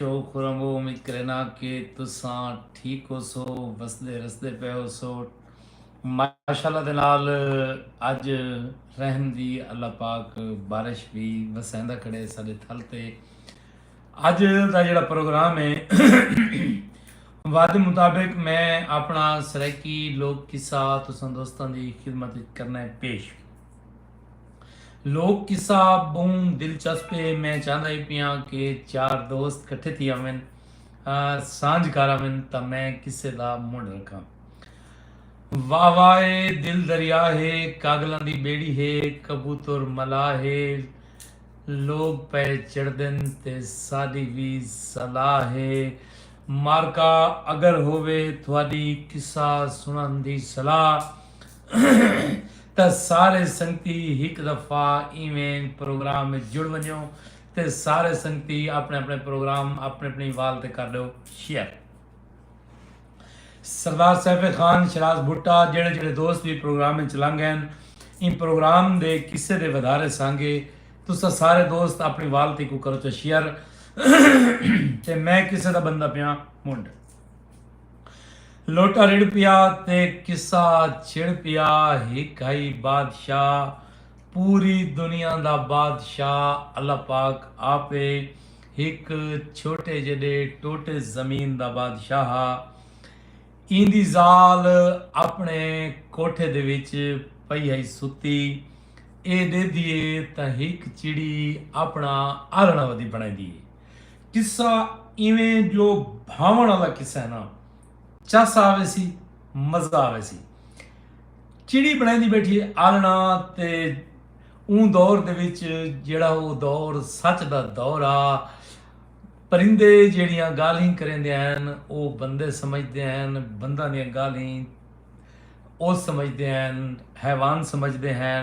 شوق خرم او امید کرینا کہ تساں ٹھیک ہوسو وسدے رسدے پئے ہوسو ماشاءاللہ دے نال اج رحم دی اللہ پاک بارش وی وسیندا کھڑے ساڈے تھل تے اج دا جڑا پروگرام ہے وعدے مطابق میں اپنا سرائیکی لوک قصہ تساں دوستاں دی خدمت کرنا ہے پیش لوک قصہ بہوں دلچسپ ہے میں چاہندا ہی پیاں کہ چار دوست کٹھے تھی آون سانجھ کر آون تا میں قصے دا منڈ رکھاں واہ واہ اے دل دریا ہے کاگلاں دی بیڑی ہے کبوتر ملا ہے لوگ پے چڑدن تے ساڈی وی صلاح ہے مارکا اگر ہووے تھوڑی قصہ سنن دی صلاح تے سارے سنگتی ہک دفعہ ایویں پروگرام وچ جڑ ونجو تے سارے سنگتی اپنے اپنے پروگرام اپنے اپنی وال تے کر دیو شیئر سردار سیف خان شراز بھٹا جڑے جڑے دوست بھی پروگرام میں چلنگ گئے ان پروگرام دے کسے دے ودھارے سانگے تو سا سارے دوست اپنی والتی کو کرو چا شیئر تے میں کسے دا بندہ پیاں منڈ لوٹا رڑھ پیا تے قصہ چھڑ پیا ہک ہئی بادشاہ پوری دنیا دا بادشاہ اللہ پاک آپ ہے ہک چھوٹے جڈے ٹوٹے زمین دا بادشاہ ہا ایندی زال اپنے کوٹھے دے وچ پئی ہئی ستی اے ڈیدھیے تاں ہک چڑی اپنا آرنڑ ودی بنڑیندی ہے قصہ ایویں جو بھاوݨ آلا قصہ ہے نا چس آویسی مزہ آویسی چڑی بنڑیندی بیٹھی ہے آلنا تے اون دور دے وچ جیڑا او دور سچ دا دور آ پرندے جیڑیاں گالھیں کریندے ہیں او بندے سمجھدے ہیں بندہ دیاں گالھیں او سمجھدے ہیں حیوان سمجھدے ہیں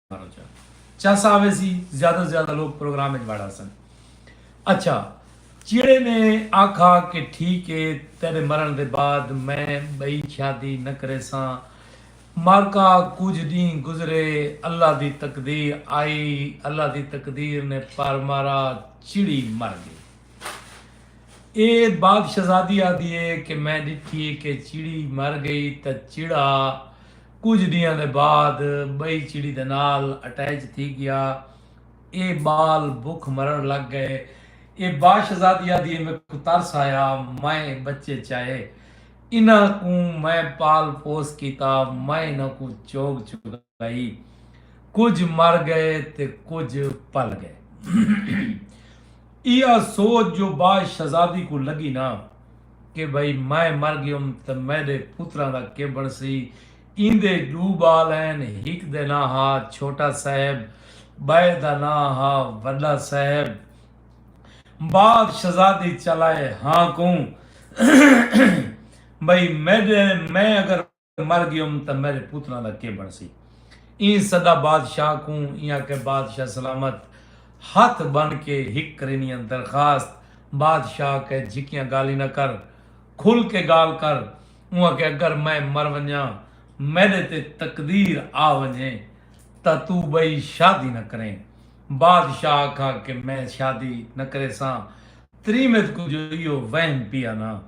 چاسا آوے سی زیادہ زیادہ لوگ پروگرام اچ وڑا سن اچھا چیڑے نے آکھا کہ ٹھیک اے تیڈے مرن دے بعد میں بئی چھیادی نہ کرے ساں مارکا کجھ ڈینہ گزرے اللہ دی تقدیر آئی اللہ دی تقدیر نے پر مارا چیڑی مر گئی اے باپ شہزادی آدھی اے کہ میں ڈٹھی اے کہ چیڑی مر گئی تاں چیڑا کجھ ڈینہاں دے بعد بئی چڑی دے نال اٹیچ تھی گیا۔ اے بال بکھ مرن لگ گئے۔ اے باشزادی آدھی اے میکوں ترس آیا میں اے بچے چائے۔ انہاں کوں میں پال پوس کیتا۔ میں انہاں کوں چوگ چگائی۔ کجھ مر گئے تے کجھ پل گئے۔ ایہا سوچ جو باشزادی کوں لگی نا کہ بھئی میں مر گیوم تاں میڈے پتراں دا کے بنڑسی۔ ایندے ڈو بال ہین ہک دے ناں ہا چھوٹا صاحب بئے دا ناں ہا وڈا صاحب۔ بعد شہزادی چلائے ہاں کوں بھئی میڈے میں اگر۔ مر گیوم تاں میݙے پتراں دا کے بݨسی؟ ایں سدا بادشاہ کوں ایں آکھے بادشاہ سلامت ہتھ ٻن کے ہک کرینیاں درخواست بادشاہ آکھے جھکیاں ڳالھیں نہ کر کھل کے ڳالھ کر اوں آکھے اگر میں مر ونڄاں میݙے تے تقدیر آ ونڄے تاں توں ٻئی شادی نہ کریں بادشاہ آکھا کہ میں شادی نہ کریساں تریمت کوں جو ایہو وہم پیا نا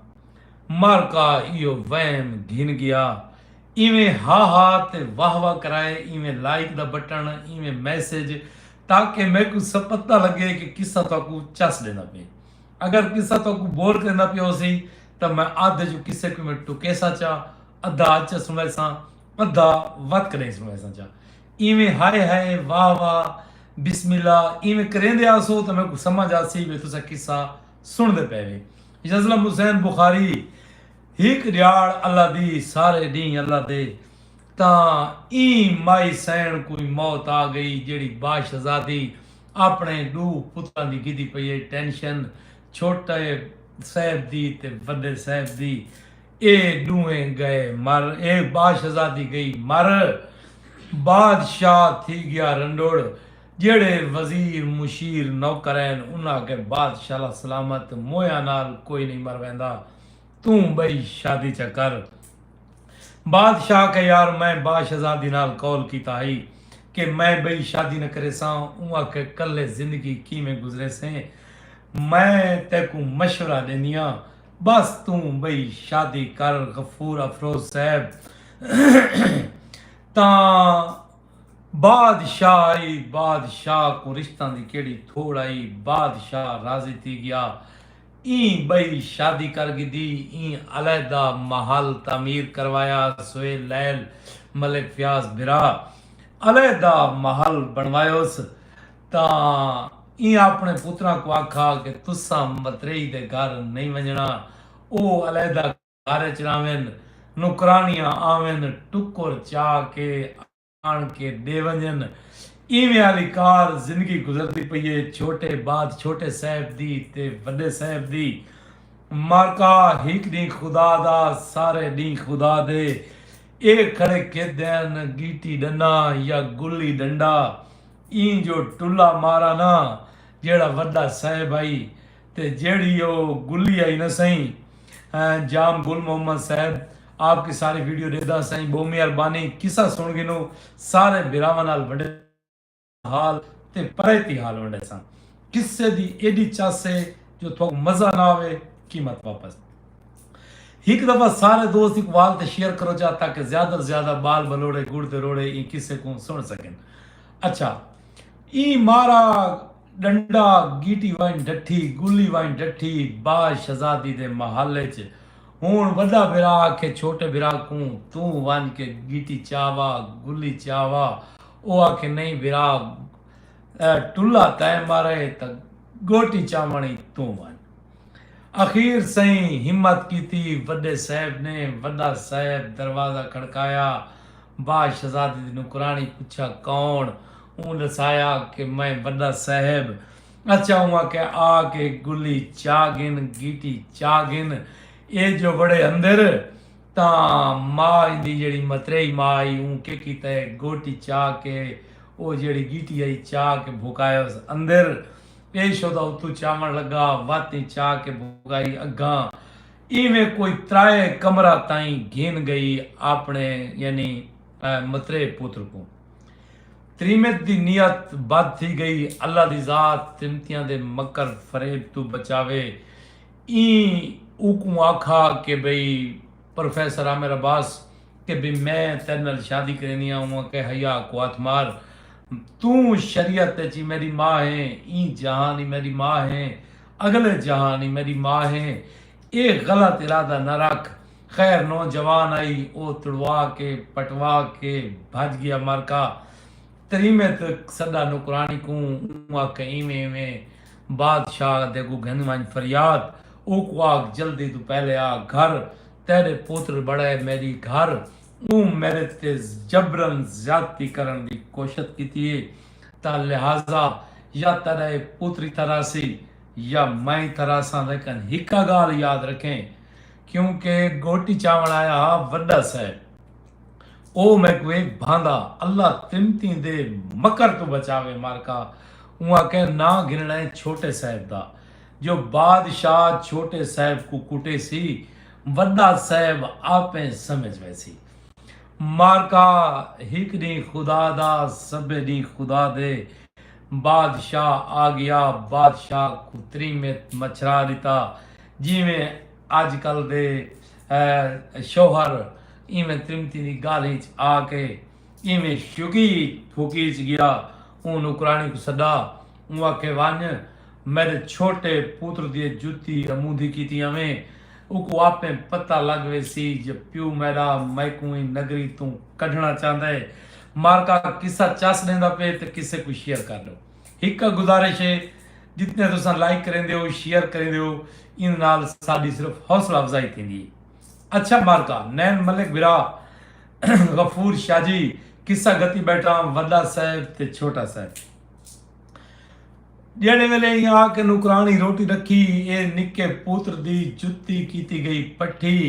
مالکا ایہو وہم گھن گیا ایویں ہا ہا تے واہ واہ کرائے ایویں لائک دا بٹن ایویں میسج تاکہ میکوں سپتہ لگے کہ قصہ تہاکوں چس ڈیندا پئے اگر قصہ تہاکوں بور کریندا پیا ہوسی تاں میں ادھ اچوں قصے کوں ایویں ٹکیساں چا ادھا اچ سنڑیساں ادھا وت کڈھیں سنڑیساں چا۔ اینویں ہائے ہائے، واہ واہ، بسم اللہ اینویں کریندے آسو تاں میکوں سمجھ آسی وے تساں قصہ سنڑدے پئے وے۔ یظلم حسین بخاری، ہک ڈیہاڑ اللہ دی، سارے ڈینہہ اللہ دے تاں ایں مائی سئینڑ کوں موت آ گئی جیہڑی با شہزادی آپنڑے ڈو پتراں دی گھدی پئی اے ٹینشن چھوٹے صیب دی تے وڈے صیب دی۔ اے ݙوہیں ڳئے مر اے باشہزادی ڳئی مر بادشاہ تھی ڳیا رنڈوڑ جیہڑے وزیر مشیر نوکرہن انہاں آکھے بادشاہ لا سلامت مویاں نال کوئی نئیں مر ویندا توں ٻئی شادی چا کر بادشاہ آکھے یار میں باشہزادی نال قول کیتا ہئی کہ میں ٻئی شادی نہ کریساں اوں آکھے کلھے زندگی کیویں گزریسیں میں تیکوں مشورہ ݙیندیاں بس توں بئی شادی کر غفور افروز صاحب تاں بادشاہ ای بادشاہ کوں رشتاں دی کیڑی تھوڑ آئی بادشاہ راضی تھی گیا ایں بئی شادی کر گھدی ایں علیحدہ محل تعمیر کروایا سہیل لعل ملک فیاض بھرا علیحدہ محل بنوایوس تاں ایں آپݨے پتراں کوں آکھا کہ تساں متریئی دے گھر نئیں ونڄݨا، او علیحدہ گھر اچ رہون، نوکرانیاں آون، ٹکر چا کے آݨ کے ݙے ونڄن۔ ایویں آلی کار زندگی گزردی پئی اے، چھوٹے بعد چھوٹے صاحب دی تے وݙے صاحب دی۔ معرکہ ہک ݙینہہ خدا دا، سارے ݙینہہ خدا دے۔ اے کھڑے کھیدے ہن، گیٹی ݙنہ یا گلی ݙنڈا، ایں جو ٹلا مارا نا جیہڑا وڈا صیب ہئی تے جیہڑی او گلی ہئی نا سئیں جام گل محمد صیب آپ کی ساری ویڈیو ڈیدھا سئیں بہوں مہربانی قصہ سن گھنوں سارے بھراواں نال ونڈے حال تے پریتی حال ونڈے ساں قصے دی ایڈی چس ہے جو تھوک مزہ نا آوے قیمت واپس۔ ہک دفعہ سارے دوست اقبال تے شیئر کرو چا تاکہ زیادہ تر زیادہ بال بلوڑے گڑ تے روڑے ایں قصے کوں سن سکن اچھا ایں مارا ڈنڈا گیٹی وائن ڈٹھی گلی وائن ڈٹھی باج شہزادی دے محل اچ ہن وڈا بھرا آکھے چھوٹے بھرا کوں توں ونج کے گیٹی چا وا گلی چا وا او آکھے نہیں بھرا ٹلا تیں مارے تاں گوٹی چاونڑ ای توں ونج اخیر سئیں ہمت کیتی وݙے صاحب نے وݙا صاحب دروازہ کھڑکایا با شہزادی دی نوکرانی پچھا کون اوں ݙسایا کہ میں وݙا صاحب اچھا اوں آکھیا آ کے گلی چا گھن گیٹی چا گھن اے جو وڑے اندر تاں ما ایندی جیڑی متریئی ما آئی اوں کے کیتا ہے گوٹی چا کے او جیڑی گیٹی آئی چا کے بھکایوس اندر پیش ہو تاں اتوں چاوݨ لڳا، وت ء چا کے بھڳائی اڳاں اینویں کوئی ترائے کمرہ تائیں گھن ڳئی آپݨے یعنی مترے پتر کوں۔ تریمت دی نیت بد تھی ڳئی، اللہ دی ذات تریمتیاں دے مکر فریب توں بچاوے، ایں اوکوں آکھا کہ بھئی پروفیسر عامر عباس کہ بی میں تیڈے نال شادی کرینی آں اوں آکھیا حیا کوات مار توں شریعت اچ ای میڈی ماء ہیں ایں جہان ای میڈی ماء ہیں اگلے جہان ای میڈی ماء ہیں اے غلط ارادہ نہ رکھ خیر نوجوان آئی او تڑوا کے پٹوا کے بھج گیا مرکا تریمے تے سڈا نوکرانی کوں اوں آکھے ایویں ایویں بادشاہ دے اگوں گھن ونج فریاد اوکوں آکھ جلدی توں پہلے آ گھر تیڈے پوتر بڑائے میڈی گھر اوں میڈے تے جبرن زیادتی کرن دی کوشت کیتی اے تاں لہذا یا تیڈا اے پوتری تراسی یا میں تراساں لیکن ہکا گالھ یاد رکھیں کیوں کہ گوٹی چاون آیا ہا وڈا صاحب او میکوں اے بھاندا اللہ تمتیں دے مکر توں بچاوے مارکا اوں آکھیں ناں گھنڑا اے چھوٹے صاحب دا جو بادشاہ چھوٹے صاحب کوں کٹے سی وڈا صاحب آپے سمجھ ویسی مارکا ہک ڈینہہ خدا دا سبے ڈینہہ خدا دے بادشاہ آگیا بادشاہ کوں تریمت مچھرا ڈتا جیویں اج کل دے شوہر ایویں تریمتیں دی گالھیں اچ آکے اینویں شکی پھوکیچ گیا۔ اوں نوکرانی کوں سݙا۔ اوں آکھے ونڄ میݙے چھوٹے پتر دی جتی امودھی کیتی آویں۔ اوکوں آپے پتہ لڳ ویسی جو پیو میݙا میکوں ایں نگری توں کڈھݨا چاہندا اے۔ مارکا قصہ چس ݙیندا پئے تے قصے کوں شیئر کر ݙو۔ ہک گزارش اے جتنے تساں لائک کریندے او، شیئر کریندے او ایندے نال ساݙی صرف حوصلہ افزائی تھیندی اے۔ اچھا مارکا نین ملک بھرا غفور شاجی قصہ گتی بیٹھا وڈا صاحب تے چھوٹا صاحب جیڑے ویلے ہی آ کے نوکرانی روٹی رکھی اے نکے پوتر دی جتی کیتی گئی پٹھی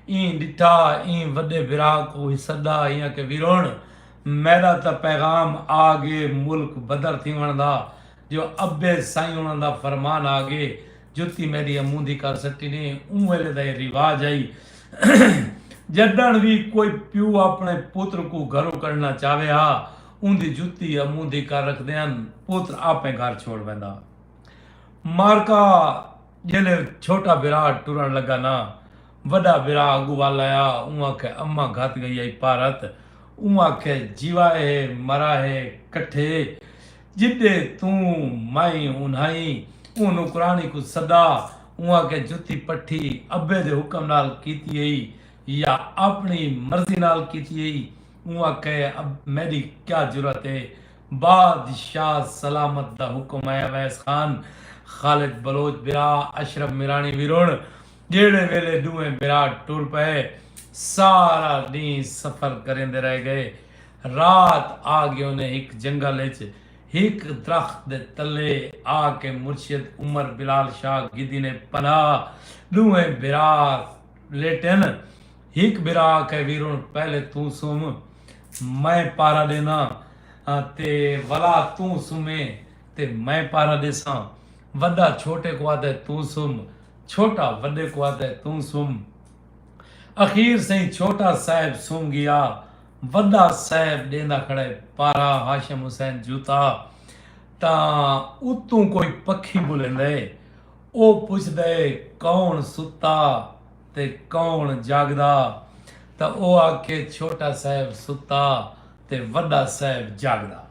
این ڈٹھا این وڈے بھرا کو ہی صدا ایاں کے ویرون میرا تا پیغام آ گے ملک بدر تھی وندہ جو ابے سائیں انہاں دا فرمان آ گئے جتی میڈی اموں دی کر سٹی نے اوں ویلے دا اے رواج آئی جڈن وی کوئی پیو اپنے پتر کو گھرو کڈنا چاوے ہا اوں دی جتی اموں دی کر رکھ دیاں پتر اپنے گھر چھوڑ ویندا مارکا جلے چھوٹا برا ٹرن لگا نا وڈا برا اگو والا آیا اوں آکھے اما گھت گئی آئی پارت اوں آکھے جیوا ہے مرا ہے کٹھے جݙے توں میں انھائیں اوں نوکراݨی کوں سݙا اوں آکھیا جتی پٹھی ابے دے حکم نال کیتی ہئی یا آپݨی مرضی نال کیتی ہئی؟ اوں آکھئے میݙی کیا جرات ہے؟ بادشاہ سلامت دا حکم ہے اویس خان، خالد بلوچ بھرا، اشرف میراݨی وی رݨ جیڑھے ویلے ݙوہیں بھرا ٹر پئے سارا ݙینھ سفر کریندے رہ ڳئے رات آ گیونیں ہک جنگل اچ ہک درخت دے تلے آ کے مرشد عمر بلال شاہ گھدی نے پناہ۔ ڈونہیں بھرا لیٹن۔ ہک بھرا آکھے ویرون پہلے توں سم میں پہرا ڈینا ہاں تے ولا توں سمیں تے میں پہرا ڈیساں۔ وڈا چھوٹے کوں آدھے توں سم۔ چھوٹا وڈے کوں آدھے توں سم۔ اخیر سئیں چھوٹا صاحب سنم گیا وڈا صاحب ڈیندا کھڑے پارا ہاشم حسین جوتا تاں اتوں کوئی پکھی بلیندے او پچھدے کون ستا تے کون جاگدا تاں او آکھے چھوٹا صاحب ستا تے وڈا صاحب جاگدا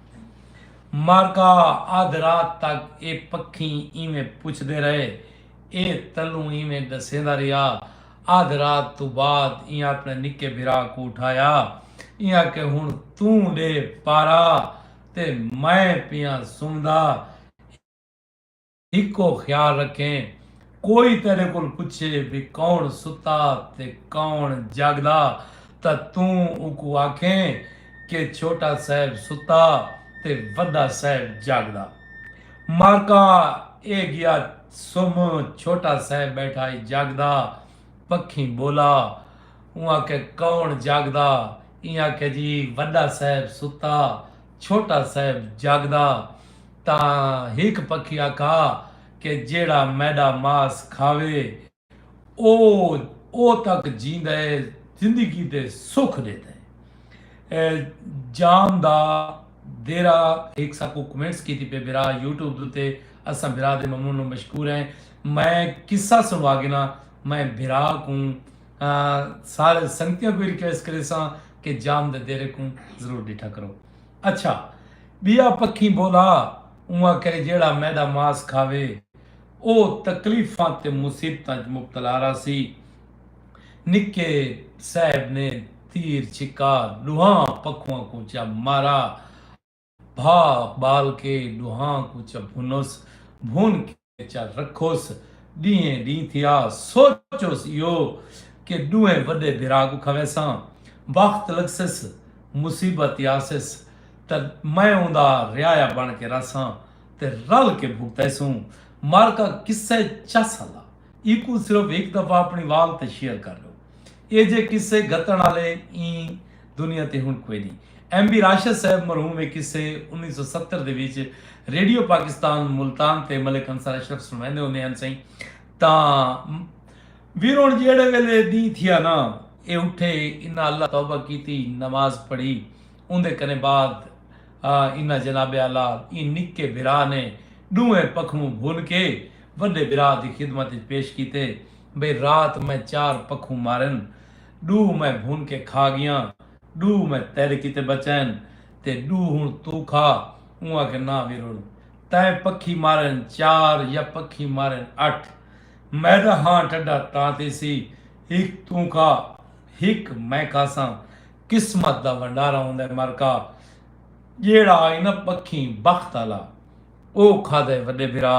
مارکا ادھ رات تک اے پکھی ایویں پچھدے رہے اے تلوں اینویں ڈسیندا رہیا۔ ادھ رات توں بعد ایں اپنے نکے بھرا کوں اٹھایا۔ ایں آکھیا ہنڑ توں ڈے پارا تے میں پیاں سمدا۔ ہکو خیال رکھیں کوئی تیڈے کول پچھے وی کون ستا تے کون جاگدا تاں توں اوکوں آکھیں کہ چھوٹا صاحب ستا تے وڈا صاحب جاگدا۔ مارکا اے گیا سم چھوٹا صاحب بیٹھا ہئی جگ دا پکھیں بولا اوں آکھیا کون جگ دا ایں آکھیا جی وڈا صاحب ستا چھوٹا صاحب جگ دا تاں ہک پکھی آکھا کہ جیڑھا میڈا ماس کھاوے او او تک جیندا ہے زندگی دے سکھ ݙیندا ہے جان دا دیرا ہک ساکو کمنٹس کیتی پہ برا یوٹیوب دوتے اساں برا دے ممنون و مشکور ہیں میں قصہ سنوا گنا میں برا کوں سارے سنگتیاں کو ریکویسٹ کرے ساں کہ جان دے دیرے کوں ضرور ڈٹھا کرو اچھا بیا پکھی بولا اواں کرے جیڑا میدا ماس کھاوے او تکلیفاں تے مصیبتاں اچ مبتلا راہسی۔ نکے صاحب نے تیر چھکا ڈوہاں پکھواں کوں چا مارا بھا بال کے ڈوہاں کوں چا بھنس بھن کے چا رکھس ڈینہیں ڈینہ تھیا سوچس ایہو کہ ڈوہیں وڈے بھرا کوں کھویساں وخت لگسس مصیبت یاسس تاں میں اوندا رعایا بن کے راہساں تے رل کے بھگتیسوں معرکہ قصہ چس ہلا ایکوں صرف ہک دفعہ اپنی وال تے شیئر کر ڈو ایجھے قصے گھتن آلے ایں دنیا تے ہن کوئی نی ایم بی راشد صاحب مرحوم اے قصے انیس سو ستر دے وچ ریڈیو پاکستان ملتان تے ملک انصار اشرف سنویندے ہوندے ہن سئیں تاں ویرون جیڑے ویلے دین تھیا نا اے اٹھے انہاں اللہ توبہ کیتی نماز پڑھی اوندے کنیں بعد انہاں جناب اعلی ایں نکے بھرا نے ڈونہیں پکھوں بھل کے وڈے بھرا دی خدمت اچ پیش کیتے بھئی رات میں چار پکھوں مارن ڈو میں بھن کے کھا گیاں ڈو میں تیڈے کیتے بچائن تے ڈو ہن توں کھا اوں آکھے ناں ویرول تیں پکھی مارن چار یا پکھی مارن اٹھ میڈا ہاں ٹڈا تاں تیسی ہک توں کھا ہک میں کھاساں قسمت دا ونڈارا ہوندا ہے مرکا جیڑھا ہئی نہ بکھیں بخت آلا او کھادا ہے وڈے بھرا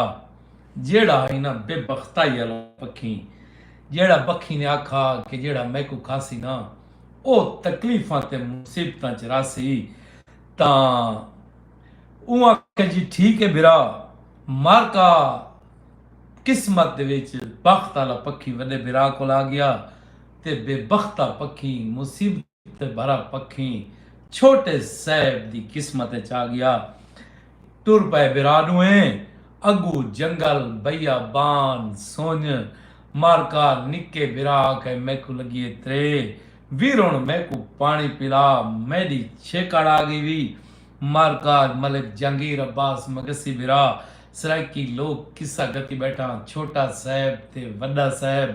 جیڑھا ہئی نہ بے بختائی آلا بکھیں جیڑھا بکھیں نے آکھا کہ جیڑھا میکوں کھاسی نہ او تکلیفاں تے مصیبتاں چ راسی تاں اوں آکھیا جی ٹھیک ہے بھرا مرکا قسمت دے وچ بخت آلا پکھی وڈے بھرا کول آگیا۔ تے بے بختا پکھیں مصیبت بھرا پکھیں چھوٹے صیب دی قسمت اچ آگیا ٹر پئے برا ڈوہیں اگو جنگل بیا بان سنج مارکا نکے برا آکھے میکوں لگیے ترے ویرون میکوں پانی پلا میڈی چھیکڑ آگی وی مارکا ملک جہانگیر عباس مگسی برا سرائیکی لوک قصہ گتی بیٹھاں چھوٹا صیب تے وڈا صیب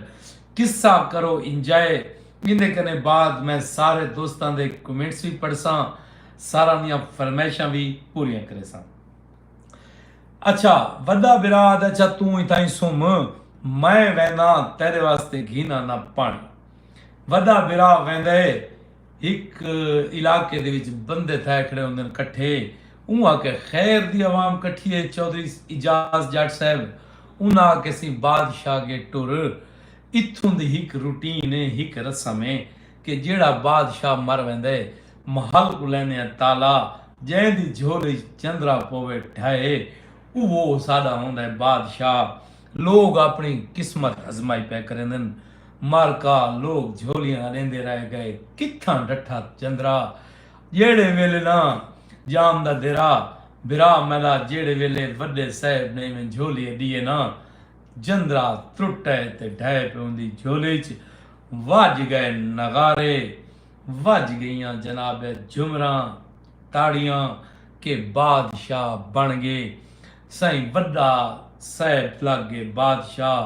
قصہ کرو انجائے ایندے کنے بعد میں سارے دوستاں دے کمنٹس وی پڑھساں ساراں دیاں فرمائشاں وی پوریاں کریساں اچھا وڈا برا آد اچھا توں اتھائیں سم میں وینداں تیڈے واسطے گھیناں نہ پانی وڈا برا ویندے ہک علاقے دے وچ بندے تھائے کھڑے ہوندن کٹھے اوں آکھیا خیر دی عوام کٹھی اے چوہدری اعجاز جٹ صاحب انہاں آکھیا سی بادشاہ گے ٹر اتھوں دی ہک روٹین اے ہک رسم اے کہ جیہڑا بادشاہ مر ویندے محل کوں لیندے آں تالا جئیں دی جھولی اچ چندرا پووے ڈھہے اوہو ساڈا ہوندے بادشاہ لوگ اپݨی قسمت ازمائی پئے کریندن۔ مالکا لوگ جھولیاں اݙیندے رہ ڳئے۔ کتھاں ڈٹھا چندرا جیڑھے ویلے ناں جام دا دیرا بھرا میݙا جیڑھے ویلے وݙے صاحب نے ایویں جھولی اݙی اے ناں جندرا ترٹئے تے ڈھئے پئے اوندی جھولی اچ وڄ ڳئے نغارے وڄ ڳئیاں جناب جھمراں تاڑیاں کہ بادشاہ بݨ ڳئے۔ سئیں وݙا صیب لڳ ڳے بادشاہ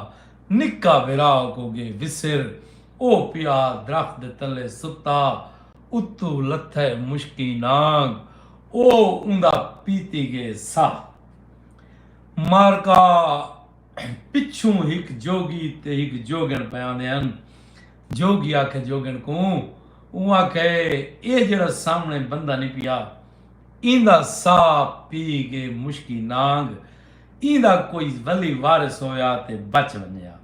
نکا وراء کو ڳے وسر او پیا درخت دے تلے ستا اتو لتھے مشکیں نانگ او اوندا پیتی ڳے ساہ معرکہ پچھوں ہک جوڳی تے ہک جوڳݨ پئے آندے ہن جوڳی آکھے جوڳݨ کوں اوں آکھے اے جیڑھا سامݨے بندہ نی پیا ایندا ساہ پی گے مشکی نانگ ایندا کوئی ولی وارث ہویا تے بچ ونجیا۔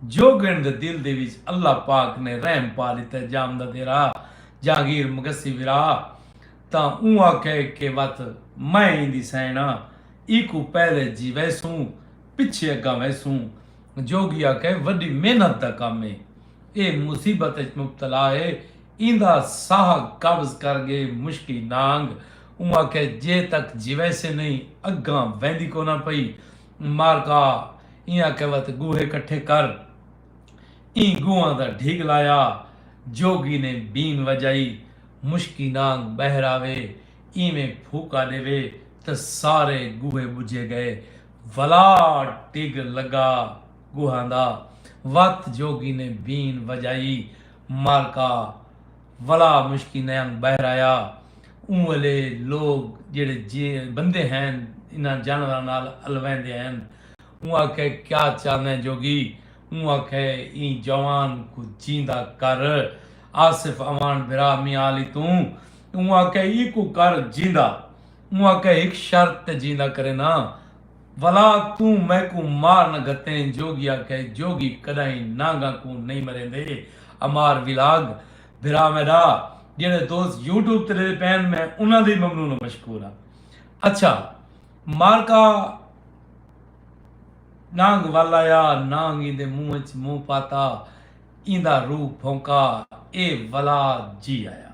جوگݨ دے دل دے وچ اللہ پاک نے رحم پا ݙتے جام دا دیرا جہانگیر مگسی ورا تاں اوں آکھے کہ وت میں ایندی سئیݨا ایکوں پہلے جیویسوں پچھے اگاں ویسوں جوگی آکھے وݙی محنت دا کم اے اے مصیبت اچ مبتلا اے ایندا ساہ قبض کر گئے مشکی نانگ اوں آکھیا جے تک جیویسے نئیں اگاں ویندی کوناں پئی مارکا ایں آکھیا وت گوہے کٹھے کر ایں گوہاں دا ڈھگ لایا جوگی نے بین وجائی مشکی نانگ بہر آوے ایویں پھوکا ڈیوے تاں سارے گوہے بجھے گئے ولا ڈھگ لگا گوہاں دا وت جوگی نے بین وجائی معرکہ ولا مشکی نیاں بہر آیا اوں ویلے لوگ جیڑھے بندے ہین انہاں جانوراں نال الویندے ہین اوں آکھے کیا چاہندیں جوگی اوں آکھے ایں جوان کوں جیندا کر آصف اوان بھرا میاں علی توں اوں آکھے ایکوں کر جیندا اوں آکھے ہک شرط تے جیندا کرینداں ولا توں میکوں مار نہ گھتیں جوگی آکھے جوگی کڈاہیں نانگاں کوں نئیں مریندے امار ولاگ بھرا میڈا جیڑھے دوست یوٹیوب تے ڈیندے پئن میں انہاں دے ممنون و مشکور ہاں اچھا مارکا نانگ ولایا نانگ ایندے منہ اچ منہ پاتا ایندا روح بھونکا اے ولا جی آیا۔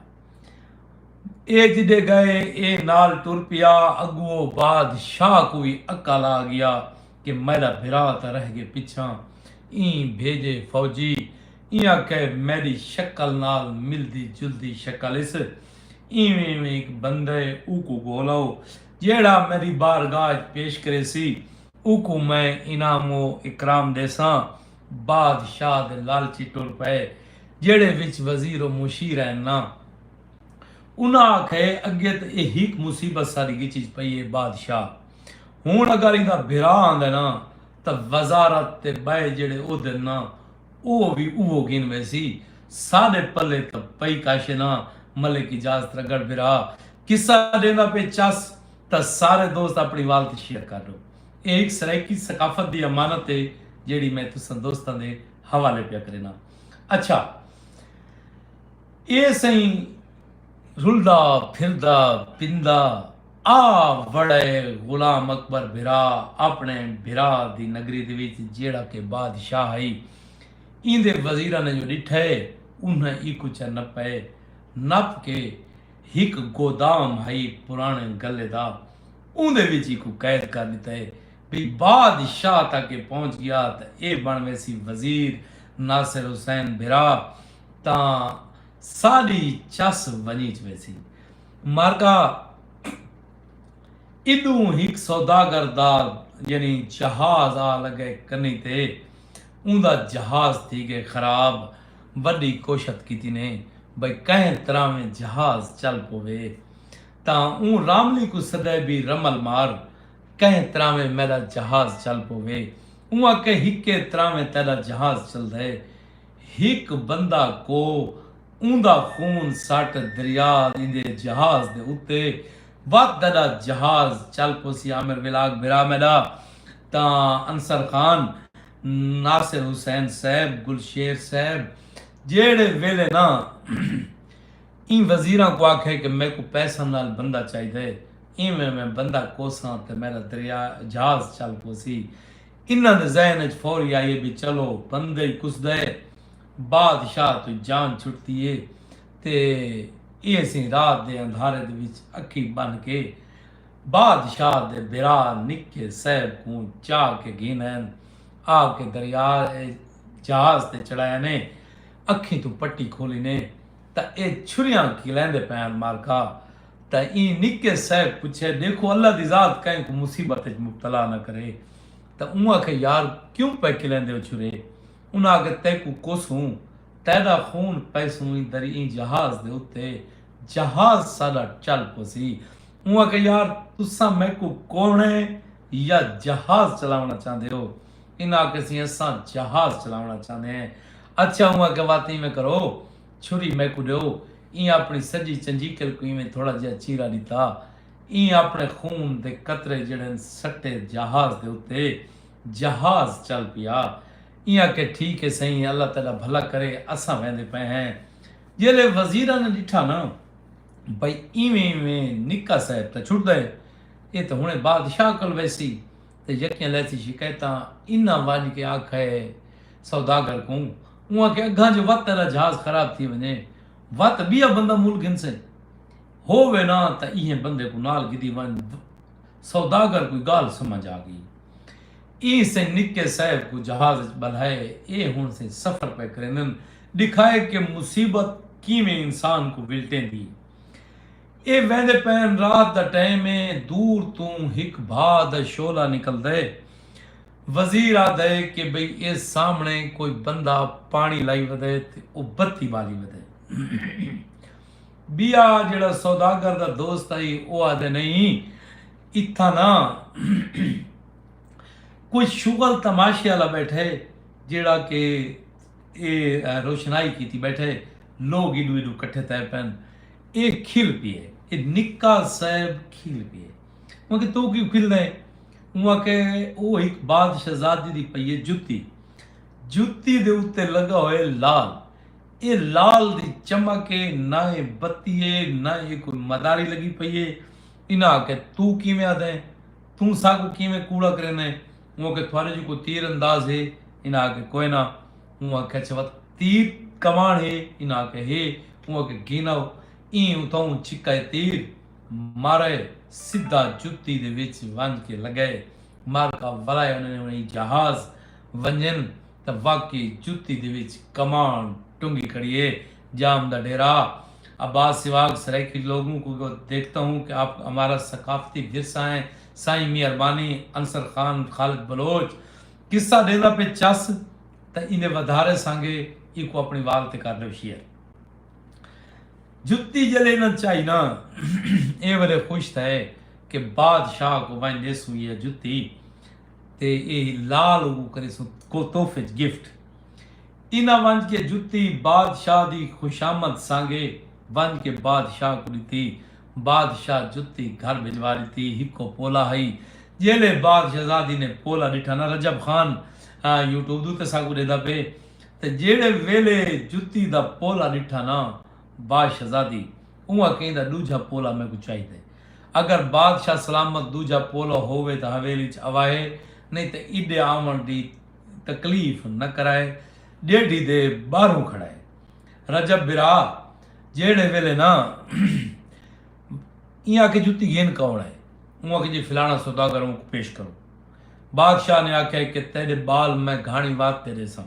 اے جڈے گئے اے نال ٹر پیا اگو او باد شاہ کوں وی عقل آ گیا کہ میڈا بھرا تاں رہ گئے پچھاں ایں بھیجے فوجی ایاں کہ میڈی شکل نال ملدی جلدی شکل اس ایویں ایویں ہک بندے اوکوں گھولو جیہڑا میڈی بارگاہ اچ پیش کریسی اوکوں میں انعام و اکرام ڈیساں باد شاہ دے لالچی ٹر پئے جیڑھے وچ وزیر و مشیر ہین نا۔ انہاں آکھئے اگے تاں اے ہیک مصیبت ساڈی گچج پئی اے باد شاہ ہن اگر ایندا بھرا آندے نا تاں وزارت تے بئے جیڑھے عہدن نا او وی اوہو گھن ویسی ساڈے پلے تاں پئی کش نا ملک اعجاز ترگڑ بھرا قصہ ڈیندا پئے چس تاں سارے دوست اپنی والت شیئر کر ڈو۔ اے ہک سرائیکی ثقافت دی امانت اے جیڑھی میں تساں دوستاں دے حوالے پیا کرینداں۔ اچھا اے سئیں رلدا پھردا پیندا آ وڑئے غلام اکبر بھرا آپنڑے بھرا دی نگری دے وچ جیڑھا کہ بادشاہ ہئی۔ ایندے وزیراں نے جو ڈٹھئے انہاں ایکوں چا نپئے۔ نپ کے ہک گودام ہئی پراݨے گلے دا اوندے وچ ایکوں قید کر ݙتا ہے بھئی باد شاہ تک ایہ پہنچ ڳیا تاں ایہ بݨ ویسی وزیر ناصر حسین بھرا تاں ساݙی چس ونڄیچ ویسی مارکا ایݙوں ہک سوداگر دا یعنی جہاز آ لڳئے کنیں تے اوندا جہاز تھی ڳئے خراب وڈی کوشت کیتی نے بئے کہیں تراویں جہاز چل پووے تاں اوں راملی کوں سدے بی رمل مار کہیں تراویں میڈا جہاز چل پووے اوں آکھے ہکے تراویں تیڈا جہاز چلدے ہک بندہ کو اوندا خون سٹ دریا ایندے جہاز دے اتے وت تیڈا جہاز چل پوسی عامر ویلاگ بھرا میڈا تاں انصر خان ناصر حسین صیب، گلشیر صیب جیہڑے ویلے نا ایں وزیراں کوں آکھئے کہ میکوں پیساں نال بندہ چاہیدے ایویں میں بندہ کوساں تے میڈا دریا جھاز چل پوسی انہاں دے ذہن اچ فوری آئیے بی چلو بندہ ای کسدئے بادشاہ توں جان چھٹدی اے تے ایہ اسیں رات دے اندھارے دے وچ اکھیں بن کے بادشاہ دے بھرا نکے صیب کوں چاہ کے گھینئن آ کے دریا اے جہاز تے چڑھائینے اکھیں توں پٹی کھولینے تاں اے چھریاں کھلیندے پئن مارکا تاں ایں نکے صیب پچھے ڈیکھو اللہ دی ذات کہیں کوں مصیبت اچ مبتلا نہ کرے تاں اوں آکھے یار کیوں پئے کھلیندے او چھرے انہاں آکھے تیکوں کوسوں تیڈا خون پیسوں ایں در ایں جہاز دے اتے جہاز ساڈا چل پوسی اوں آکھیا یار تساں میکوں کوڑیں یا جہاز چلاوݨا چاہندے ہو؟ انہاں آکھیا سی اساں جہاز چلاوݨا چاہندے ہیں۔ اچھا اوں آکھیا وت ایویں کرو چھری میکوں ݙیو ایں اپݨی سڄی چنجیکل کوں ایویں تھوڑا جیہا چیرا ݙتا۔ ایں اپݨے خون دے قطرے جیہڑے ہن سٹے جہاز دے اتے جہاز چل پیا۔ ایں آکھیا ٹھیک ہے سئیں اللہ تیݙا بھلا کرے اساں ویندے پئے ہیں۔ جیلھے وزیراں نے ݙٹھا نہ۔ بھئی ایویں ایویں نکا صاحب تاں چھٹدا ہے ایہ تاں ہنڑے بادشاہ کول ویسی تے یکیاں لیسی شکایتاں انہاں ونج کے آکھئے سوداگر کوں اونہاں کے اگھاں جو وت تیرا جھاز خراب تھی ونجے وت بیا بندہ مول گھنسے ہو وے ناں تاں ایہے بندے کوں نال گھدی ونج سوداگر کوں گالھ سمجھ آ گئی۔ ایں سئیں نکے صاحب کوں جہاز اچ ٻلہائے اے ہݨ سئیں سفر پئے کریندن ݙکھائے کہ مصیبت کیویں انسان کوں ولٹیندی اے اے ویندے پئن رات دا ٹائم اے دور توں ہک بھا دا شعلہ نکلدئے وزیر آہدئے کہ بھئی اے سامݨے کوئی بندہ پاݨی لائی ودئے تے او بتی ٻالی ودئے ٻیا جیڑھا سوداگر دا دوست ہئی او آہدئے نئیں اتھاں نہ کجھ شغل تماشے آلا بیٹھے جیڑھا کہ اے روشنائی کیتی بیٹھے لوگ ایڈو ایڈو کٹھے تھئے پن اے کھل پیئے اے نکا صاحب کھل پیئے اوں آکھیا توں کیوں کھلدا ایں اوں آکھیا او ہک بادشہزادی دی پئی اے جتی جتی دے اتے لگا ہوئے لال اے لال دی چمک اے نہ اے بتی اے نہ اے کوئی مداری لگی پئی اے انہاں آکھیا توں کیویں آہدا ہیں؟ توں ساکوں کیویں کوڑا کریندا ہیں؟ اوں آکھیا تھوارے جو کوئی تیر انداز ہے؟ انہاں آکھیا کوئے نہ۔ اوں آکھیا اچھا وت تیر کماݨ ہے؟ انہاں آکھیا ہے۔ اوں آکھیا گھن آؤ۔ ایں اتھاؤں چھکائے تیر مارئے سدھا جتی دے وچ ونج کے لگئے۔ معرکہ ولائے انہاں نے انہی جہاز ونجن تاں واقعی جتی دے وچ کماݨ ٹنگی کھڑی ہے۔ جام دا ڈیرہ عباس سواگ سرائیکی لوگوں کو دیکھتا ہوں کہ آپ کو ہمارا ثقافتی ورثہ ہیں سائیں مہربانی انصر خان خالد بلوچ قصہ ڈیندا پے چس تا ایندے ودھارے سانگے ایکو اپنی وال تے کر دیو شیئر جتی جلے نہ چاہی نا اے ولے خوش تھا ہے کہ بادشاہ کو وائن دے سو یہ جتی تے اے لال کو کرے سو کو توفج گفٹ انہاں ونج کے جتی بادشاہ دی خوشامد سانگے ونج کے بادشاہ کوں ڈتی۔ بادشاہ جتی گھر بھجوا ڈتی۔ ہکو پولا ہئی۔ جیلھے بادشزادی نے پولا ڈٹھا نا رجب خان یوٹیوب دے اتے ساکوں ڈیندا پئے تے جیلھے ویلھے جتی دا پولا ڈٹھا نا بادشزادی اونہاں کہندا ڈوجھا پولا میکوں چاہیدا ہے۔ اگر بادشاہ سلامت ڈوجھا پولا ہووے تاں حویلی اچ اوائے نئیں تاں ایڈے آون دی تکلیف نہ کرائے ڈیڈھی دے باہروں کھڑائے رجب برا جیڑھے ویلے نہ ایں آکے جتی گھن کون ہے اوں آکے جی فلانا سوداگر اوں کو پیش کرو بادشاہ نے آکھے کہ تیرے بال میں گھانی واسطے ریساں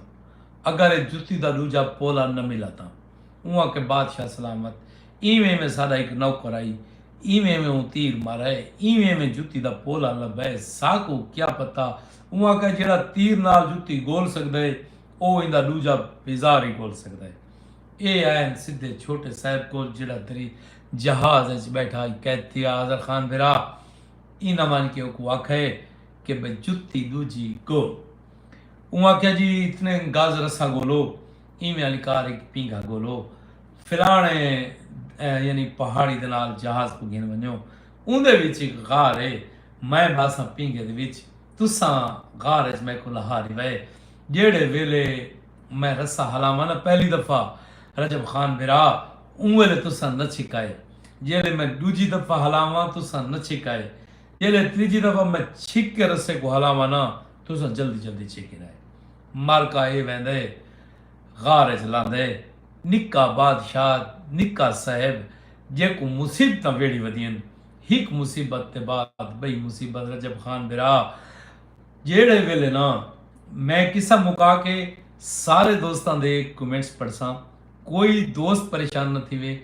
اگر اے جتی دا دوجا پولا نہ ملا تاں اوں آکے بادشاہ سلامت ایویں ایویں ساڈا ایک نوکر آئی ایویں ایویں اوں تیر مارائے ایویں ایویں جتی دا پولا لبائے ساکو کیا پتا اوں آکھیا جیڑھا تیر نال جتی گھول سگدا ہے او ایندا ڈوجھا بیزار ہی گھول سگدا ہے۔ اے آئن سدھے چھوٹے صاحب کول جیڑھا تری جہاز اچ بیٹھا ہئی کہت تھیا آذر خان بھرا ایناں ونج کے اوکوں آکھئے کہ بھئی جتی ڈوجھی گھول۔ اوں آکھیا جی اتنے گز رسہ گھولو اینویں آلی کار ہک پینگھا گھولو فلانے یعنی پہاڑی دے نال جہاز کوں گھن ونجو۔ اوندے وچ ہک غار ہے، میں بھاساں پینگھے دے وچ، تساں غار اچ میکوں لہاری وئے، جیہڑے ویلے میں رسہ ہلاواں ناں پہلی دفعہ رجب خان بھرا اوں ویلے تساں نچھک آئے، جیہڑے میں ڈوجھی دفعہ ہلاواں تساں نچھک آئے، جیہڑے تریجھی دفعہ میں چھک کے رسے کوں ہلاواں ناں تساں جلدی جلدی چھکیندے آئے، معرکہ اے ویندے۔ غار اچ لاندے نکا بادشاہ نکا صاحب جیکوں مصیبتاں ویڑھی ودین ہک مصیبت دے بعد بئی مصیبت رجب خان برا جیڑھے ویلے نا میں قصہ مکا کے سارے دوستاں دے کمنٹس پڑھساں کوئی دوست پریشان نہ تھیوے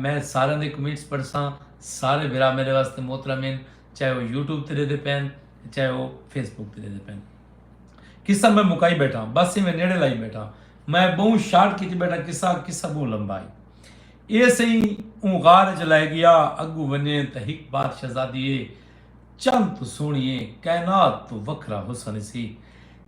میں ساریاں دے کمنٹس پڑھساں سارے برا میرے واسطے محترم ہن چاہے او یوٹیوب تے ڈیدے پین چاہے او فیس بک تے ڈیدے پین قصہ میں مکائی بیٹھاں بس ایویں نیڑے لائی بیٹھاں میں بہوں شارٹ کیتی بیٹھاں قصہ قصہ بہوں لمبا ہے اے سئی اوں غار وچ لے گیا اگوں ونجے تاں ہک بات شہزادی اے چند تو سوہنی اے کائنات تو وکھرا حسن سی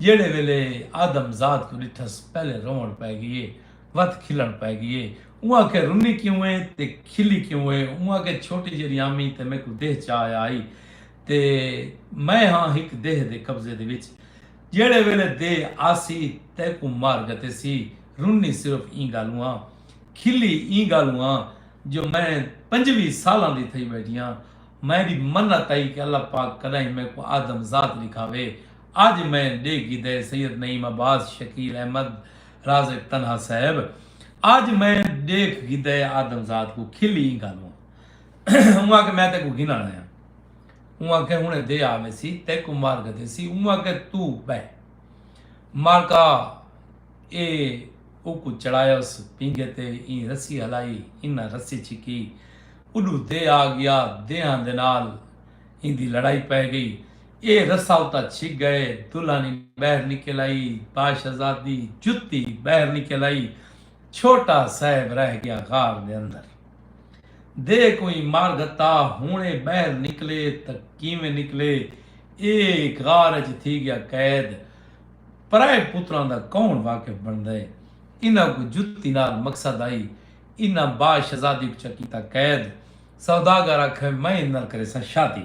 جیڑھے ویلے آدم ذات کوں ڈٹھس پہلے روون پے گئی اے وت کھلن پے گئی اے اوں آکھے رنی کیوں اے تے کھلی کیوں اے اوں آکھے چھوٹی جیڑی آمی تے میکوں دیہ چا آیا ہئی تے میں ہاں ہک دیہہ دے قبضے دے وچ جیڑھے ویلے دے آسی تیکوں مار گھتیسی رنی صرف ایں گالوں آں کھلی ایں گالوں آں جو میں پنجوی سالاں دی تھئی بیٹھی آں میں دی منت ہئی کہ اللہ پاک کدائیں میکوں آدم ذات لکھاوے اج میں ڈے گیدے سید نعیم عباس شکیل احمد رازق طنہا صاحب اج میں ڈیکھ گیدے آدم ذات کوں کھلی ایں گالوں آں۔ اوں آکھے میں تیکوں گھن آنا ہاں اوں آکھے ہنے دے آوے سی تیکوں مار کے دے سی اوں آکھے تو بہ مالکا اے او کو چڑھایا اس پینگے تے این رسی ہلائی انہ رسی چھکی اڈو دے آ گیا دیاں دے نال این دی لڑائی پہ گئی اے رسا اتا چھک گئے دلانی بہر نکل آئی باشزادی جتی بہر نکل آئی چھوٹا صاحب رہ گیا غار دے اندر۔ دے کوئیں مار گھتا ہن اے بہر نکلے تاں کیویں نکلے۔ اے غار اچ تھی گیا قید۔ پرائے پتراں دا کون واقف بنڑدے۔ انہاں کوں جتی نال مقصد آئی۔ انہاں با شہزادی کوں چا کیتا قید۔ سوداگر آکھے میں ایندے نال کریساں شادی۔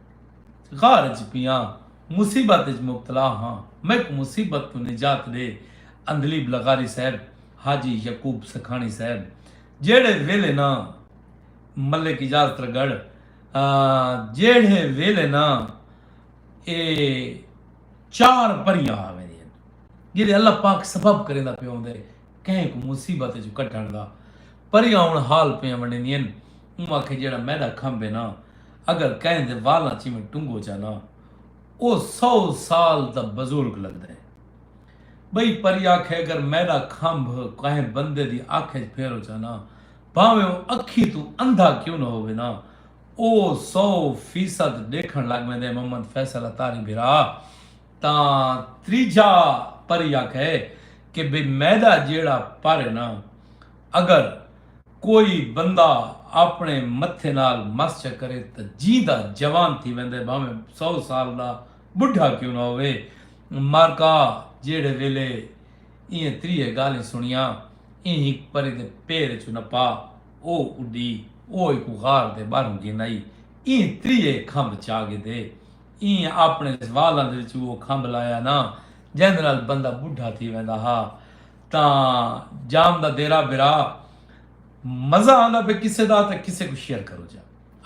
غار اچ پیاں مصیبت اچ مبتلا ہاں میکوں مصیبت توں نجات ڈے عندلیب لغاری صاحب حاجی یعقوب سکھاݨی صاحب جیڑھے ویلے نہ ملک اجازت رگڑ جیڑھے ویلے نہ اے چار پریاں آ ویندین جیڑھے اللہ پاک سبب کریندا پیا ہوندے کہیں کوں مصیبت اچوں کڈھݨ دا پریاں ہݨ حال پیاں ونڈیندین اوں آکھے جیڑھا میݙا کھمب ہے نا اگر کہیں دے والاں چیویں ٹنگو چا نا او سو سال دا بزرگ لگدا ہے بئی پری آکھے اگر میݙا کھمب کہیں بندے دی اکھ اچ پھیرو چا نا بھانویں او اکھیں توں اندھا کیوں نہ ہووے نا او سو فیصد ڈیکھݨ لگ ویندے محمد فیصل اتاری بھرا تاں تریجھا پر ای آکھیا ہے کہ بے میدا جیڑھا پر ہے نا اگر کوئی بندہ آپنڑے متھے نال مس چا کرے تاں جیندا جوان تھی ویندا ہے بھانویں سو سال دا بڈھا کیوں نہ ہووے مارکا جیڑھے ویلے ایہہ تریہہ گالھیں سنڑیاں ایں ہک پری دے پیر اچوں نپا او اڈی او ایکوں غار دے باہروں گھن آئی ایں تریہہ کھمب چا گھدے ایں آپݨے والاں دے وچوں او کھمب لایا نا جیندے نال بندہ ٻڈھا تھی ویندا ہا تاں جام دا دیرہ برا مزہ آندا پئے قصے دا تاں قصے کوں شیئر کرو جا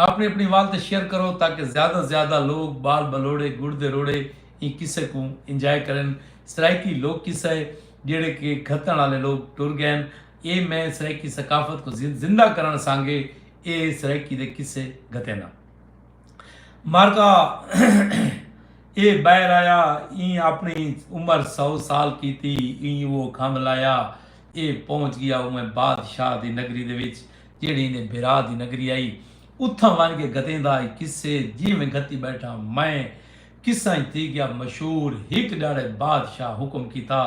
آپݨے اپݨی وال تے شیئر کرو تاکہ زیادہ زیادہ لوک ٻال ٻلوڑے گڑدے روڑے ایں قصے کوں انجوائے کرن سرائیکی لوک قصہ ہے جیڑھے کہ گھتݨ آلے لوک ٹر ڳئن اے میں سرائیکی ثقافت کوں زندہ کرݨ سانگے اے سرائیکی دے قصے گھتینداں۔ مرغا اے بہر آیا ایں اپنی عمر سو سال کیتی ایں او کھنگ لایا اے پہنچ گیا اوے بادشاہ دی نگری دے وچ جیڑی نے بھرا دی نگری آئی اتھاں ون کے گتیں دا کسے جی میں گھتی بیٹھا میں کساں تھی گیا مشہور ہک ڈاڑے بادشاہ حکم کیتا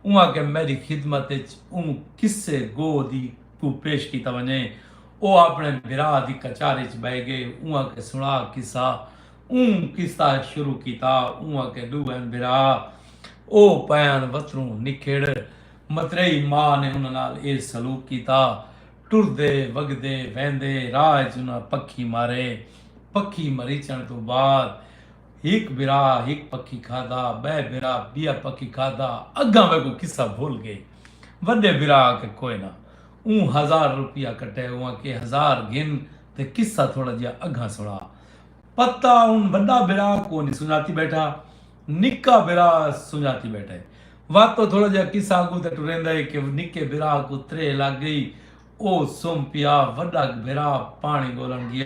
اواں کے میری خدمت اچ اوں کسے گو دی کو پیش کیتا ونجے او آپݨے بھرا دی کچار اچ ٻہہ ڳئے اوں آکھے سݨا قصہ اوں قصہ شروع کیتا اوں آکھے ݙو ہن بھرا او پئن وتروں نکھڑ متریئی ماء نے انہاں نال اے سلوک کیتا ٹردے وگدے ویندے راہ اچ انہاں پکھی مارے پکھی مریچݨ توں بعد ہک بھرا ہک پکھی کھادا ٻئے بھرا ٻیا پکھی کھادا اگاں ویکوں قصہ بھل ڳئے وݙے بھرا آکھے کوئنہ اوں ہزار روپیہ کٹئے اواں کے ہزار گھن تے قصہ تھوڑا جیہا اگھاں سݨا۔ پتہ اون وݙا بھرا کونی سنجاتی ٻیٹھا نکا بھرا سنجاتی ٻیٹھا ہے۔ وت او تھوڑا جیہا قصہ اڳوں تے ٹریندا ہے کہ نکے بھرا کوں تریہہ لڳ ڳئی او سم پیا وݙا بھرا پاݨی ڳولݨ ڳیا۔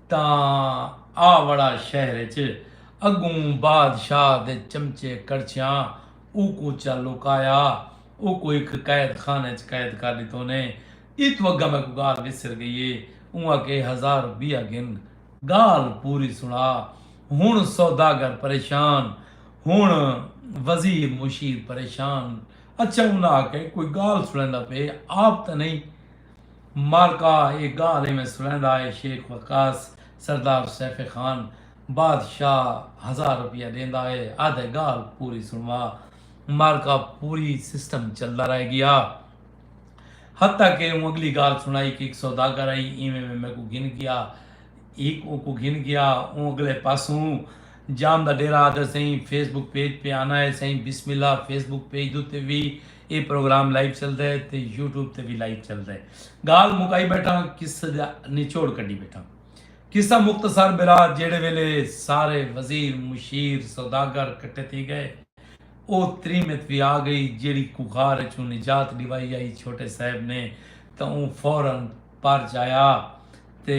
تاں آ وڑا شہر اچ اڳوں بادشاہ دے چمچے کڑچھیاں اوکوں چا لوکایا اوکوں ہک قید خانے اچ قید کر ݙتو نے ایتوں اڳاں میکوں ڳالھ وسر ڳئی اے اوں آکھیا اے ہزار روپیہ گھن ڳالھ پوری سݨا ہݨ سوداگر پریشان ہݨ وزیر مشیر پریشان اچھا انہاں آکھیا اے کوئی ڳالھ سݨیندا پئے آپ تاں نئیں مارکا اے گالھ ایویں سݨیندا اے شیخ وقاص سردار سیف خان بادشاہ ہزار روپیہ ݙیندا اے آہدے گالھ پوری سݨوا مارکا پوری سسٹم چلدا رہ ڳیا حتی کہ اوں اڳلی گالھ سݨائی کہ ہک سوداگر آئی ایویں میں میکوں گھن ڳیا ہک اوکوں گھن ڳیا اوں اڳلے پاسوں جام دا ݙیرہ آہدے سئیں فیس بک پیج پے آنا اے سئیں بسم اللہ فیس بک پیج دے اتے وی اے پروگرام لائیو چلدا ہے تے یوٹیوب تے وی لائیو چلدا ہے گال مکائی بیٹھا ہاں قصہ دا نچوڑ کڈی بیٹھا قصہ مختصر برا جیڑے ویلے سارے وزیر مشیر سوداگر کٹھے تھی گئے او تریمت وی آ گئی جیڑی کوخار اچوں نجات ڈیوائی آئی چھوٹے صاحب نے تاں اوں فورا پر جایا تے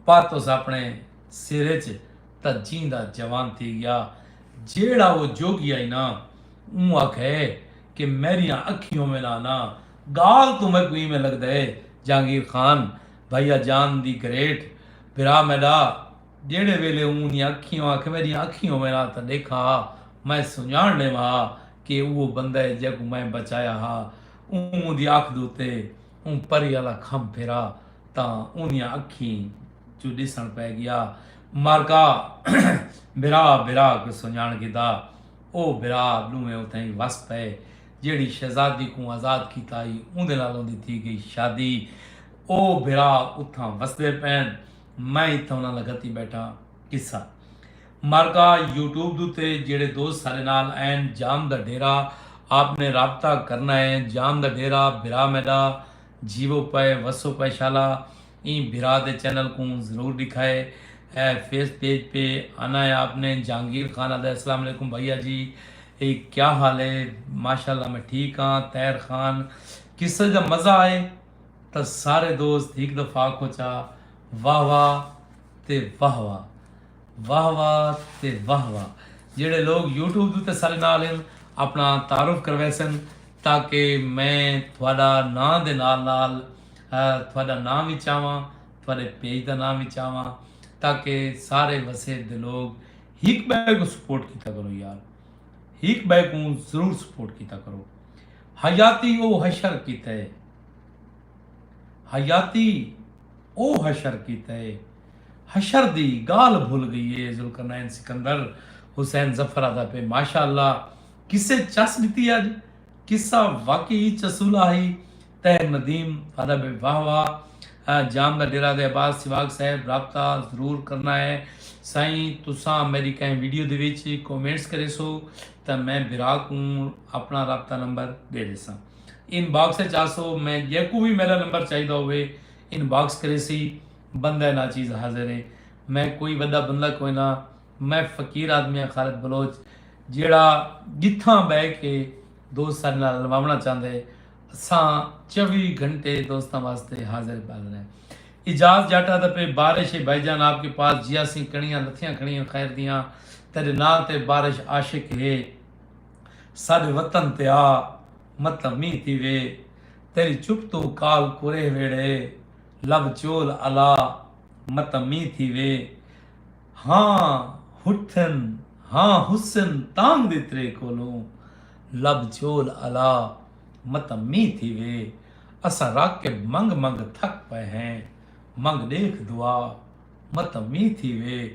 پر تس اپنے سر اچ تاں جیندا جوان تھی ڳیا۔ جیڑھا او جوڳی آئی نا، اوں آکھئے کہ میݙیاں اکھیں ہووے نا نا، ڳالھ توں میکوں ایویں لڳدئے جہانگیر خان بھئیا جان دی گریٹ بھرا میݙا جیڑھے ویلے اوں دیاں اکھیں آکھئے میݙیاں اکھیں ہووے نا تاں ݙیکھاں ہا میں سنڄاݨ ݙیواں ہا کہ اوہو بندہ اے جیکوں میں بچایا ہا اوں اوندی اکھ دتے اوں پری آلا کھم پھرا تاں اوندیاں اکھیں چوں ݙسݨ پئے ڳیا۔ مرکا برا برا کوں سنجاݨ گھدا او برا ݙوہیں اتھائیں وس پئے جیڑھی شہزادی کوں آزاد کیتا ہئی اوندے نال اوندی تھی گئی شادی او برا اتھاں وسدے پین میں اتھاں انہاں نال گھتی بیٹھا قصہ مرکا یوٹیوب دوتے جیڑھے دوست سارے نال این جام دا ڈیرا آپ نے رابطہ کرنا ہے جام دا ڈیرا برا میڈا جیو پئے وسو پئے شالا ایں بھرا دے چینل کوں ضرور ڈکھائے اے فیس پیج پے آنا اے آپ نے جہانگیر خان آدھا اسلام علیکم بھائیا جی اے کیا حال اے ماشاءاللہ میں ٹھیک ہاں طاہر خان قصہ جا مزہ آئے تا سارے دوست ہک دفعہ آکھو چا واہ واہ تے واہ واہ واہ واہ تے واہ واہ جیڑے لوگ یوٹیوب دے تے سارے نال ہیں اپنا تعارف کرویسن تاکہ میں تھوڑا نام دے نال نال تہاݙا ناں وی چاواں، تہاݙے پیج دا ناں وی چاواں تاکہ سارے وسیب دے لوگ ہک ٻئے کوں سپورٹ کیتا کرو یار ہک ٻئے کوں ضرور سپورٹ کیتا کرو حیاتی او حشر کیتے حیاتی او حشر کیتے حشر دی گالھ بھل گئی اے ذوالقرنین سکندر حسین ظفر آدا پے ماشاءاللہ کسے چس ڈتی اج قصہ واقعی چسولا ہئی تہہ ندیم آہدا بے واہ واہ جام دا ڈیرہ دے عباس سواگ صاحب رابطہ ضرور کرنا ہے سائیں تساں میڈی کہیں ویڈیو دے وچ کومنٹس کریسو تاں میں بھرا کوں اپنا رابطہ نمبر ڈے ڈیساں ان باکس اچ آسو میں جیکوں وی میڈا نمبر چاہیدا ہووے ان باکس کریسی بندہ ناچیز حاضر ہے میں کوئی وڈا بندہ کوئی نہ میں فقیر آدمی ہاں خالد بلوچ جیڑا جتھاں بہ کے دوست ساڈے نال الواونا چاہندے اساں چوی گھنٹے دوستاں واسطے حاضر بازر ہیں اجاز جاٹا دا پہ بارش ہے بھائی جان آپ کے پاس جیا سیں کڑیاں لتھیاں کھڑیاں خیر دیاں تیرے نال تے بارش عاشق ہے ساڈے وطن تے آ مطلب می تھی وے تیری چپ تو کال کرے ویڑے لب چول الا مطلب می تھی وے ہاں ہٹھن ہاں حسن تانگ دی ترے کولوں لب جھول الا متاں مینہ تھیوے اساں راکب منگ منگ تھک پئے ہیں منگ ڈیکھ دعا متاں مینہ تھیوے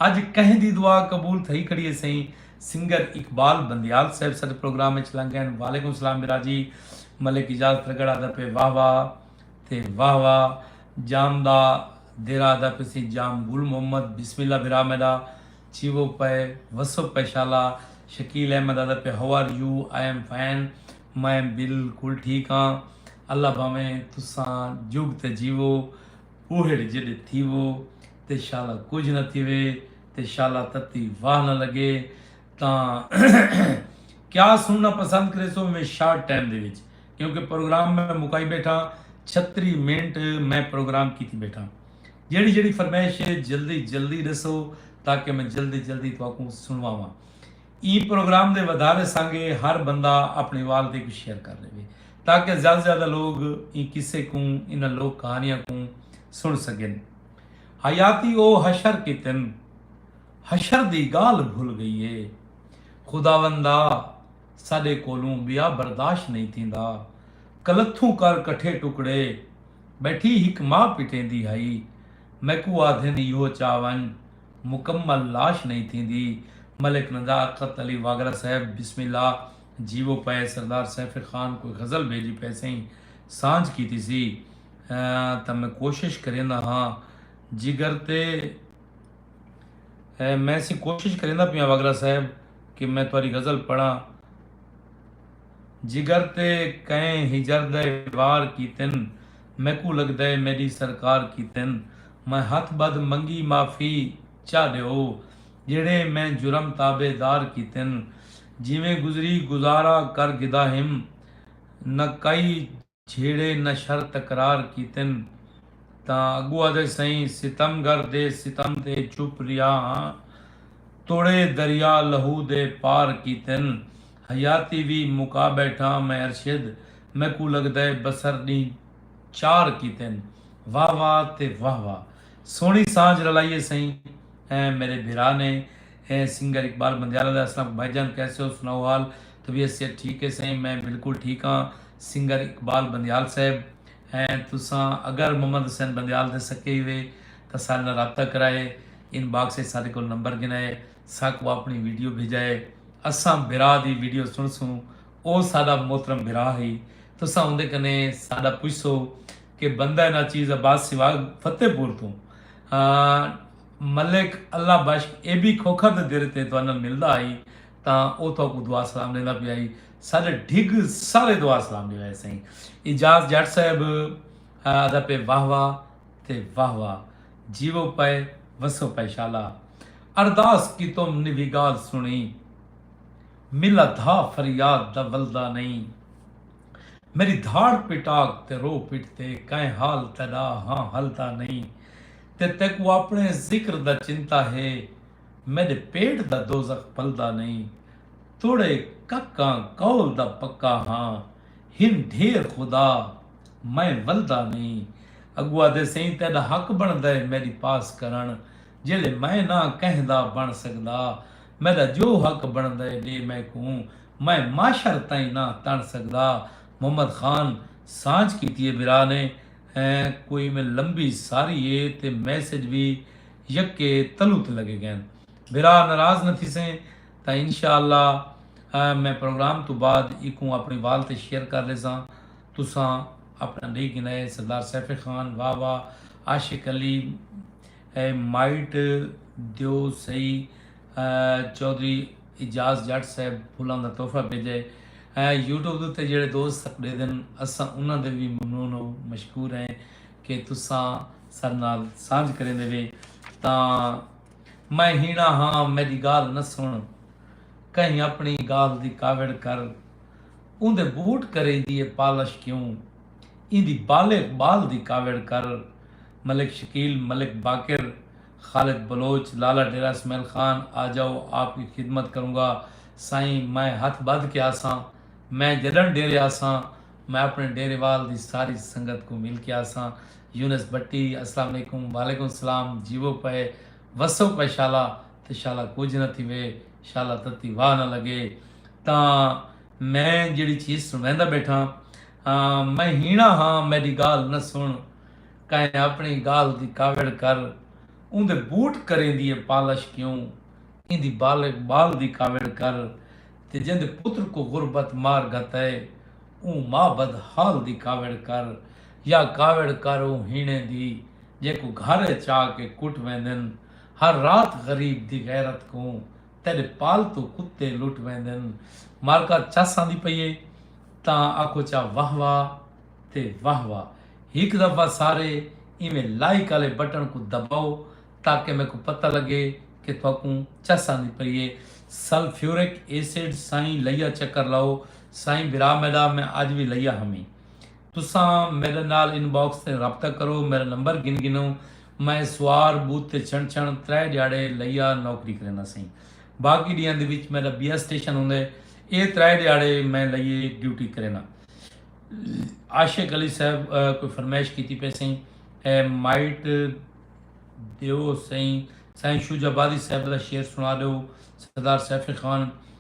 اج کہیں دی دعا قبول تھئی کھڑی ہے سئیں سنگر اقبال بندیال صاحب ساڈے پروگرام وچ لنگ گئن وعلیکم سلام برا جی ملک اجاز ترگڑھ آدا پئے واہ واہ تے واہ واہ جام دا دیرہ آدا پئے سئیں جام گل محمد بسم اللہ برا میڈا چھیوو پئے وسو پئے شالا شکیل احمد آدھا پئے ہو are you I am fine میں بالکل ٹھیک ہاں اللہ بھاویں تساں جگ تے جیوو بوہڑ جیڈے تھیوو تے شالا کجھ نہ تھیوے تے شالا تتی واہ نہ لگے تاں کیا سننا پسند کریسو میں شارٹ ٹائم دے وچ کیونکہ پروگرام میں مکائی بیٹھا چھتری منٹ میں پروگرام کیتی بیٹھا جیڑھی جیڑھی فرمائش ہے جلدی جلدی ڈسو تاکہ میں جلدی جلدی تہاکوں سنواواں ایں پروگرام دے ودھارے سانگے ہر بندہ اپنی وال تے کو شیئر کر لیوے تاکہ زیادہ زیادہ لوگ ایں قصے کوں انہاں لوک کہانیاں کوں سن سگن حیاتی او حشر کیتن حشر دی گال بھول گئی ہے خداوندا ساڈے کولوں بیا برداشت نہیں تھیندا کلتھوں کر کٹھے ٹکڑے بیٹھی ہک ماء پٹیندی ہئی۔ میکوں آدھن ایہو چا ونج مکمل لاش نئیں تھیندی۔ ملک نزاکت علی واگڑہ صاحب بسم اللہ جیوو پئے سردار سیف خان کوئی غزل بھیجی پئے سئیں سانجھ کیتی سی تاں میں کوشش کریندا ہاں جگر تے میں سئیں کوشش کریندا پیاں واگڑہ صاحب کہ میں تہاڈی غزل پڑھاں۔ جگر تے کئیں ہجر دئے وار کیتن میکوں لگدئے میڈی سرکار کیتن میں ہتھ بدھ منگی معافی چا ڈیو جیڑھے میں جرم تابے دار کیتن جیویں گزری گزارا کر گھدا ہم نہ کئی جھیڑے نشر تکرار کیتن تاں اگو آدھے سئیں ستم گر دے ستم تے چپ ریا ہاں توڑے دریا لہو دے پار کیتن حیاتی وی مکا بیٹھاں میں ارشد میکوں لگدے بسر ڈینہہ چار کیتن واہ واہ تے واہ واہ سوہنی سانجھ رلائیے سئیں ایں میرے بھرا نے ایں سنگر اقبال بندیالہ دا اسلام بھائی جان کیسے ہو سناؤ حال طبیعت صحت ٹھیک ہے سئیں میں بلکل ٹھیک ہاں سنگر اقبال بندیال صاحب ہیں تساں اگر محمد حسین بندیال دے سکے ہی وے تاں سارے نال رابطہ کرائے ان باکس اچ سارے کول نمبر گھنائے ساکوں آپنی ویڈیو بھیجائے اساں بھرا دی ویڈیو سنڑسوں او ساڈا محترم بھرا ہئی تساں اوندے کنے ساڈا پچھسو کہ بندہ ناچیز عباس سیوال فتح پور توں ملک اللہ بخش اے بی کھوکھر دے دیرے تے تہاڈے نال ملدا ہئی تاں او تہاکوں دعا سلام ݙیندا پیا ہئی۔ ساݙے ڈھڳ سارے دعا سلام ݙیوے ہئے سئیں۔ اعجاز ڄٹ صاحب آہدا پئے واہ واہ تے واہ واہ جیوو پئے وسو پئے شالا ارداس کیتم نوی ڳالھ سݨی ملا دھا فریاد دا ولدا نئیں میݙی دھاڑ پٹاک تے رو پٹ تے کائیں حال تیݙا ہاں ہلدا نئیں تے تیکوں آپݨے ذکر دا چنتا ہے میݙے پیٹ دا دوزخ پلدا نئیں توڑے ککاں قول دا پکا ہاں ہن ڈھیر خدا میں ولدا نئیں اگو آدھے سئیں تیݙا حق بݨدے میݙی پاس کرݨ جیلے میں نہ کہیں دا بݨ سڳدا میݙا جو حق بݨدے ݙے میکوں میں معاشر تئیں نہ تݨ سڳدا محمد خان سانچ کیتی اے بھرا نے کوئی میں لمبی ساری اے تے میسج وی یکے تلو تے لگے گئن۔ بھرا ناراض نہ تھیسیں تاں انشاء اللہ میں پروگرام توں بعد ایکوں اپنڑی وال تے شیئر کر لیساں۔ تساں اپنڑا ڈینہہ گنائے سردار سیف خان واہ واہ عاشق علی اے مائٹ دیو سئی چوہدری اعجاز جٹ صاحب پھولاں دا تحفہ بھیجئے یوٹیوب دے اتے جیہڑے دوست سک ڈیدن اساں انہاں دے وی ممنون و مشکور ہیں کہ تساں سر نال سانجھ کریندے وے تاں میں ہینا ہاں میڈی گال نہ سن کہیں اپنی گال دی کاوڑ کر اوندے بوٹ کریدی اے پالش کیوں ایندی بالے اقبال دی کاوڑ کر ملک شکیل ملک باقر خالد بلوچ لالا ڈیرہ اسمعیل خان آجاؤ آپ کی خدمت کروں گا سائیں میں ہتھ بدھ کے آساں میں جڈن ڈیرے آساں میں اپنے ڈیرے وال دی ساری سنگت کوں مل کے آساں یونس بھٹی اسلام علیکم وعلیکم السلام جیوو پئے وسو پئے شالا تے شالا کجھ نہ تھیوے شالا تتی واہ نہ لگے تاں میں جیڑھی چیز سنڑیندا بیٹھاں ہاں میں ہینا ہاں میڈی گالھ نہ سنڑ کائیں اپنڑی گالھ دی کاوڑ کر اوندے بوٹ کریندی اے پالش کیوں ایندی بالغ بال دی کاوڑ کر تے جیندے پتر کو غربت مار گھتئے اوں مابد حال دی کاوڑ کر یا کاوڑ کر اوں ہیݨے دی جیکوں گھر اچ آ کے کٹ ویندن ہر رات غریب دی غیرت کوں تیݙے پالتو کتے لٹ ویندن معرکہ چس آندی پئی اے تاں آکھو چا واہ واہ تے واہ واہ ہک دفعہ سارے ایویں لائک آلے بٹن کوں دباؤ تاکہ میکوں پتہ لگے کہ تہاکوں چس آندی پئی اے سلفیورک ایسڈ سائیں لیا چکر لاؤ سائیں بھرا میڈا میں اج وی لئیا ہمی تساں میڈے نال ان باکس تیں رابطہ کرو میڈا نمبر گھن گھنو میں سوار بوت تے چھنڑ چھنڑ ترے ڈیاڑے لئیا نوکری کریندہ سئیں باقی ڈیاں دے وچ میڈا بیا سٹیشن ہوندے اے ترے ڈیاڑے میں لئیے ڈیوٹی کریندہ عاشق علی صاحب کوئی فرمائش کیتی پئے سئیں اے مائٹ دیو سئیں سائیں شوج آبادی صاحب دا شعر سنا ڈیو سردار سیف خان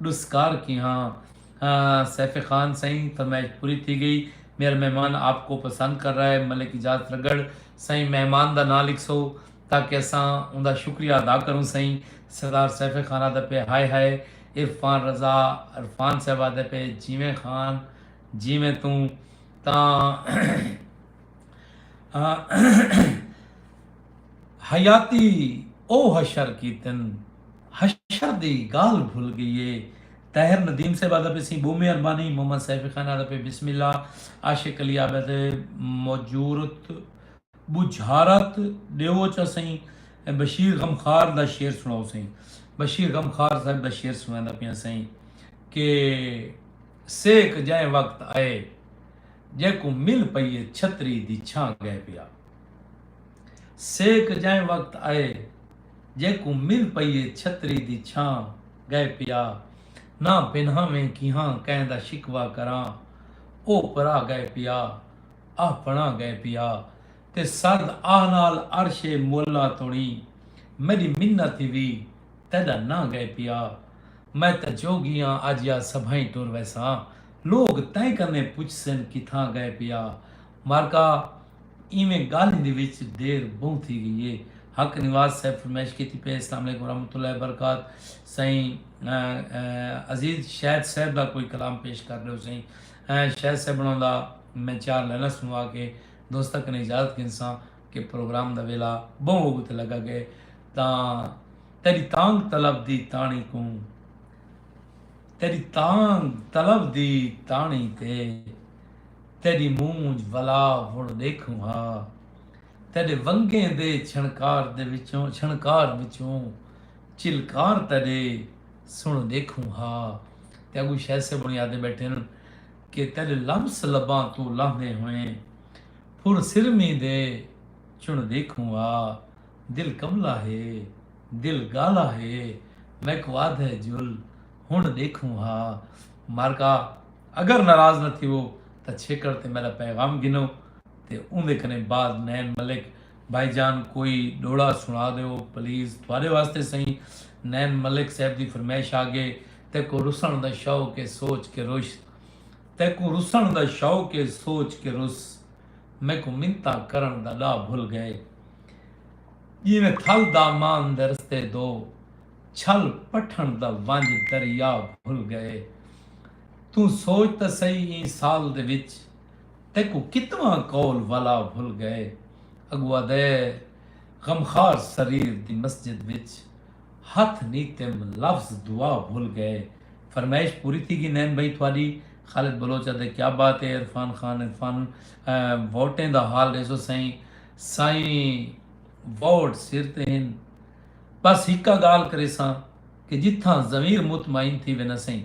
ڈسکار کیہاں سیف خان سئیں فرمائش پوری تھی گئی میرا مہمان آپ کو پسند کر رہا ہے ملک اجاز ترگڑھ سئیں مہمان دا ناں لکھسو تاکہ اساں اوندا شکریہ ادا کروں سئیں سردار سیف خان آدھا پئے ہائے ہائے عرفان رضا عرفان صاحب آدھا پئے جیویں خان جیویں توں تاں حیاتی او حشر کیتن حشر دی گالھ بھل گئی اے۔ طاہر ندیم صاحب آدا پی سی بومی اربانی محمد سیفی خان آدا پی بسم اللہ عاشق علی آبے تے موجورت بوجھارت ڈیو چا سئیں بشیر غمخوار دا شعر سنڑاؤ سئیں بشیر غمخوار صاحب دا شعر سنڑیندا پیاں سئیں کہ سیک جئیں وقت آئے جیکوں مل پئیے چھتری دی چھاں گئے پیا سیک جئیں وقت آئے۔ جیکوں مل پئی اے چھتری دی چھاں گئے پیا نہ پنہاویں کیہاں کئیں دا شکوہ کراں او پرا گئے پیا آہ پنڑا گئے پیا تے سرد آہ نال عرش معلی توڑیں میڈی منت ای وی تیڈا نہ گئے پیا میں تاں جوگی آں اج یا سبھائیں ٹر ویساں لوگ تیں کنیں پچھسن کتھاں گئے پیا مارکا ایویں گالھیں دی وچ دیر بہوں تھی گئی اے۔ حق نواز صاحب فرمائش کیتی پئے اسلام علیکم ورحمت اللہ وبرکات سئیں عزیز شید صاحب دا کوئی کلام پیش کر ڈیو سئیں شید صاحب انہاں دا میں چار لائناں سنوا کے دوستاں کنیں اجازت گھنساں کہ پروگرام دا ویلا بہوں ہوگو تے لگا گئے تاں تیڈی تانگھ طلب دی تانڑی کوں تیڈی تانگھ طلب دی تانڑی تے تیݙی مونجھ ولا وݨ ݙیکھوں ہا تیݙے ونگیں دے چھݨکار دے وچوں چھݨکار وچوں چلکار تیݙے سݨ ݙیکھوں ہا تے اڳوں شے سے بݨی آدھے ٻیٹھن کہ تیݙے لمس لباں توں لہندے ہوئیں پھر سرمی دے چݨ ݙیکھوں ہا دل کملا ہے دل ڳالا ہے میکوں آدھے جل ہنڑ ڈیکھوں ہا مارکا اگر ناراض نہ تھیوو تاں چھیکڑ تے میڈا پیغام گھنو تے اوندے کنے بعد نین ملک بھائی جان کوئی ڈوہڑا سنڑا دیو پلیز تہاڈے واسطے سئیں نین ملک صاحب دی فرمیش آگے تیکوں رسنڑ دا شوق اے سوچ کے رش تیکوں رسنڑ دا شوق اے سوچ کے رس میکوں منتاں کرنڑ دا ڈاہ بھل گئے جیویں تھل دامان دے رستے دو چھل پٹھݨ دا ونج دریا بھل ڳئے توں سوچ تاں سہی ایں سال دے وچ تیکوں کتواں قول ولا بھل ڳئے اڳوادے غمخار سریر دی مسجد وچ ہتھ نیتم لفظ دعا بھل ڳئے فرمائش پوری تھی گی نین بھئی تھاڈی خالد بلوچ آدھے کیا بات اے عرفان خان عرفان ووٹیں دا حال ݙیسو سائیں سائیں ووٹ سر تے ہن بس ہکا گالھ کریساں کہ جتھاں ضمیر مطمئن تھی وینا سئیں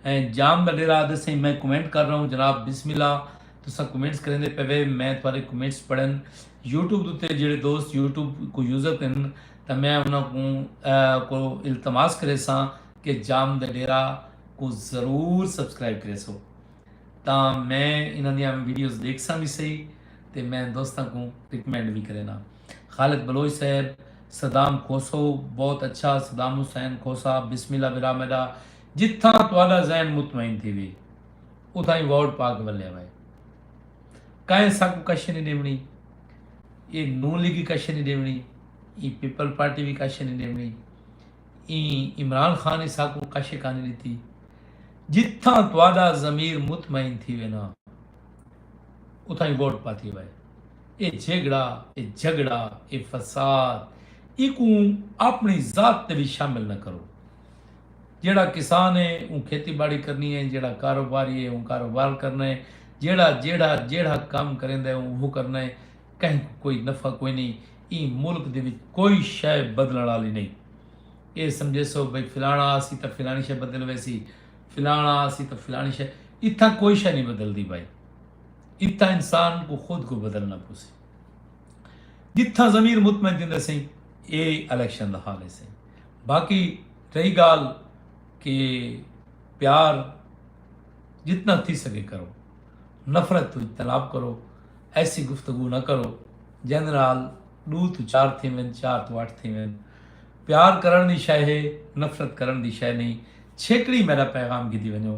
ایں جام دا ڈیرا آدھے سئیں میں کمنٹ کر رہا ہوں جناب بسم اللہ تساں کمنٹس کریندے پے وے میں تھارے کمنٹس پڑھن یوٹیوب دوتے جیڑے دوست یوٹیوب کو یوزر تھن تاں میں انہاں کوں کو التماس کریساں کہ جام دا ڈیرا کو ضرور سبسکرائب کریسو تاں میں انہاں دیاں ویڈیوز دیکھساں بھی سہی تے میں دوستاں کوں ریکمینڈ بھی کرینا خالد بلوچ صیب صدام کھوسو بہت اچھا صدام حسین کھوسا بسم اللہ برا میڈا جتھاں تہاڈا ذہن مطمئن تھیوے اتھاں ای ووٹ پا کے ولیا وے کائیں ساکوں کشے نی ڈیونی اے نون لیگی کشے نی ڈیونی ایں پیپل پارٹی وی کشے نی ڈیونی ایں عمران خان ای ساکوں کشے کانی ڈتی جتھاں تہاڈا ضمیر مطمئن تھیوے نا اتھاں ای ووٹ پاتی وے۔ اے جھیگڑا، اے جھگڑا، اے فساد ایکوں آپنڑی ذات تے وی شامل نہ کرو۔ جیہڑا کسان اے اوں کھیتی باڑی کرنی اے، جیہڑا کاروباری اے اوں کاروبار کرنا اے، جیہڑا جیہڑا جیہڑا کم کریندا اے اوں اوہو کرنا اے، کہیں کوں کوئی نفع کوئی نئیں، ایں ملک دے وچ کوئی شئے بدلنڑ آلی نئیں۔ اے سمجھیسو بھئی فلانڑا آسی تاں فلانڑی شئے بدل ویسی، فلانڑا آسی تاں فلانڑی شئے، اتھاں کوئی شئے نئیں بدلدی بھائی۔ اتھاں انسان کوں خود کوں بدلنا پوسی۔ جتھاں ضمیر مطمئن تھیندے سئیں اے الیکشن دا حال ہے سئیں۔ باقی رہی گال کہ پیار جتنا تھی سگے کرو۔ نفرت توں اجتناب کرو۔ ایسی گفتگو نہ کرو جیندے نال ڈو توں چار تھیون چار توں اٹھ تھیون۔ پیار کرن دی شے ہے نفرت کرن دی شے نہیں چھیکڑی میڈا پیغام گھدی ونجو۔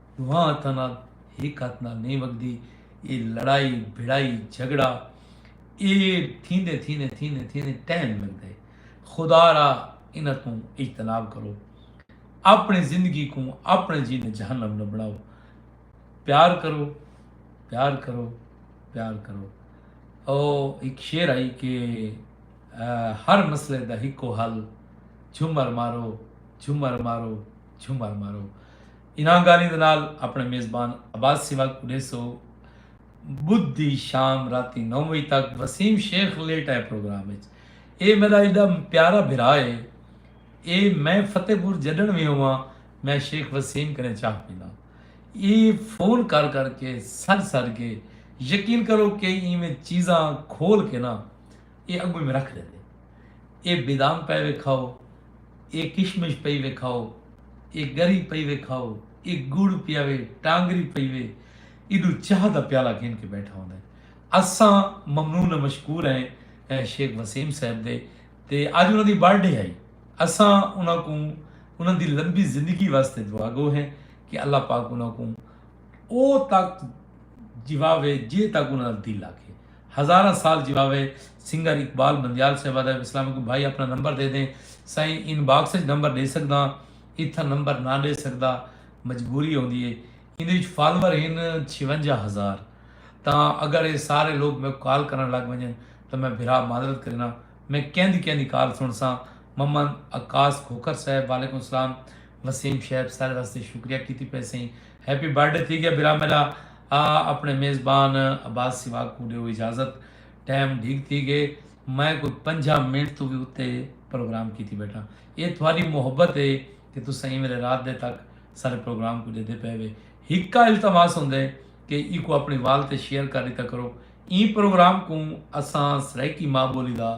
ݙوہاں ہتھاں نال ہک ہتھ نال نئیں وڳدی اے لڑائی بھڑائی جھڳڑا اے تھیندے تھیندے تھیندے تھیندے ٹائم لڳدے خدا را انہاں توں اجتناب کرو اپݨی زندگی کوں اپݨے جی نے جہنم نہ بݨاؤ پیار کرو پیار کرو پیار کرو او ایک شعر آئی کہ ہر مسئلے دا ہکو حل جھمر مارو جھمر مارو جھمر مارو انہاں گالھیں دے نال اپنڑے میزبان عباس سیوگ کوں ڈیسو۔ بدھ دی شام راتی نو وجے تک وسیم شیخ لیٹ آئے پروگرام اچ اے میڈا ایڈا پیارا بھرا اے اے میں فتح پور جڈنڑ وی ہوواں میں شیخ وسیم کنیں چاہ پیناں اے فون کر کر کے سڈ سڈ کے یقین کرو کے ایویں چیزاں کھول کے نا اے اگوں میں رکھ ڈیندے اے بادام پے ویکھاؤ اے کشمش پئی وے کھاؤ اے گری پئی وے کھاؤ اے گڑ پیا وے ٹانگری پئی وے ایڈو چاہ دا پیالہ گھن کے بیٹھا ہوندا ہے اساں ممنون و مشکور ہیں شیخ وسیم صاحب دے تے اج انہاں دی برتھ ڈے ہئی اساں انہاں کوں انہاں دی لمبی زندگی واسطے دعا گو ہیں کہ اللہ پاک انہاں کوں او تک جیواوے جے تک انہاں دا دل آکھے۔ ہزاراں سال جیواوے سنگر اقبال مندیال صاحب ادب اسلام کوں بھائی اپنا نمبر دے دیں سائیں ان باکس اچ نمبر ڈے سکداں اتھاں نمبر نہ ڈے سکدا مجبوری ہوندی ہے ایندے وچ فالوور ہن چھیونجا ہزار تاں اگر اے سارے لوگ میکوں کال کرن لگ ونجن تاں میں بھرا معذرت کرینا میں کیندی کیندی کال سنڑساں ممن عکاس کھوکھر صاحب وعلیکم السلام وسیم شعیب سائل واسطے شکریہ کیتی پئے سئیں ہیپی برڈے تھی گیا برا میرا آ اپنے میزبان عباس سواگ کو ڈیو اجازت ٹائم ڈھیگ تھی گئے میں کوئی پنجا منٹ تو بھی اتے پروگرام کیتی بیٹھا اے تھواری محبت ہے کہ تسا ایں ویلے رات دے تک سارے پروگرام کو دے دے پے وے ہکا التماس ہوندے کہ ای کو اپنی وال تے شیئر کر دیتا کرو ایں پروگرام کو اساں سرائیکی ماں بولی دا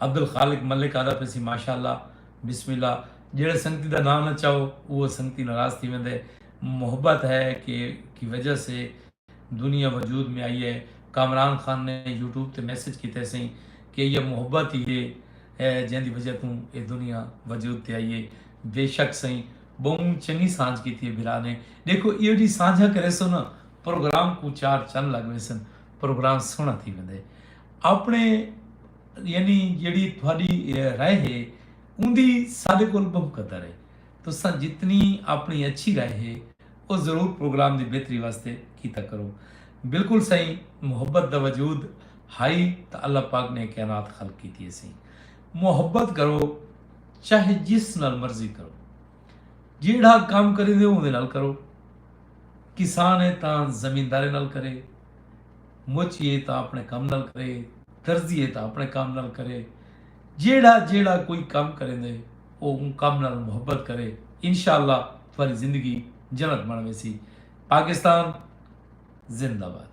عبدالخالق ملک آہدا پیسی ماشاء اللہ بسم اللہ جیڑھے سنگتی دا ناں نہ چاؤ اوہ سنگتی ناراض تھی ویندے محبت ہے کہ کی وجہ سے دنیا وجود میں آئی ہے کامران خان نے یوٹیوب تے میسج کیتے سئیں کہ ایہ محبت ہی ہے جیں دی وجہ توں اے دنیا وجود تے آئی ہے بے شک سئیں بہوں چنگی سانجھ کیتی ہے بھرا نے ڈیکھو ایہو جی سانجھاں کریسو نا پروگرام کوں چار چن لگ ویسن پروگرام سوہنڑا تھی ویندے اپݨے یعنی جیڑھی تہاݙی رائے ہے اوندی ساݙے کول ٻہوں قدر ہے۔ تساں جتنی اپݨی اچھی رائے ہے او ضرور پروگرام دی بہتری واسطے کیتا کرو۔ بالکل سئیں محبت دا وجود ہائی تاں اللہ پاک نے اے کائنات خلق کیتی ہیسی۔ محبت کرو چاہے جس نال مرضی کرو۔ جیڑھا کم کریندے او اوندے نال کرو۔ کسان ہے تاں زمیندارے نال کرے۔ مچ یے تاں اپنے کم نال کرے درزی یے تاں اپنے کم نال کرے جیڑا جیڑا کوئی کم کریں دے او اون کم نال محبت کرے انشاءاللہ تھواری زندگی جنت بن ویسی پاکستان زندہ باد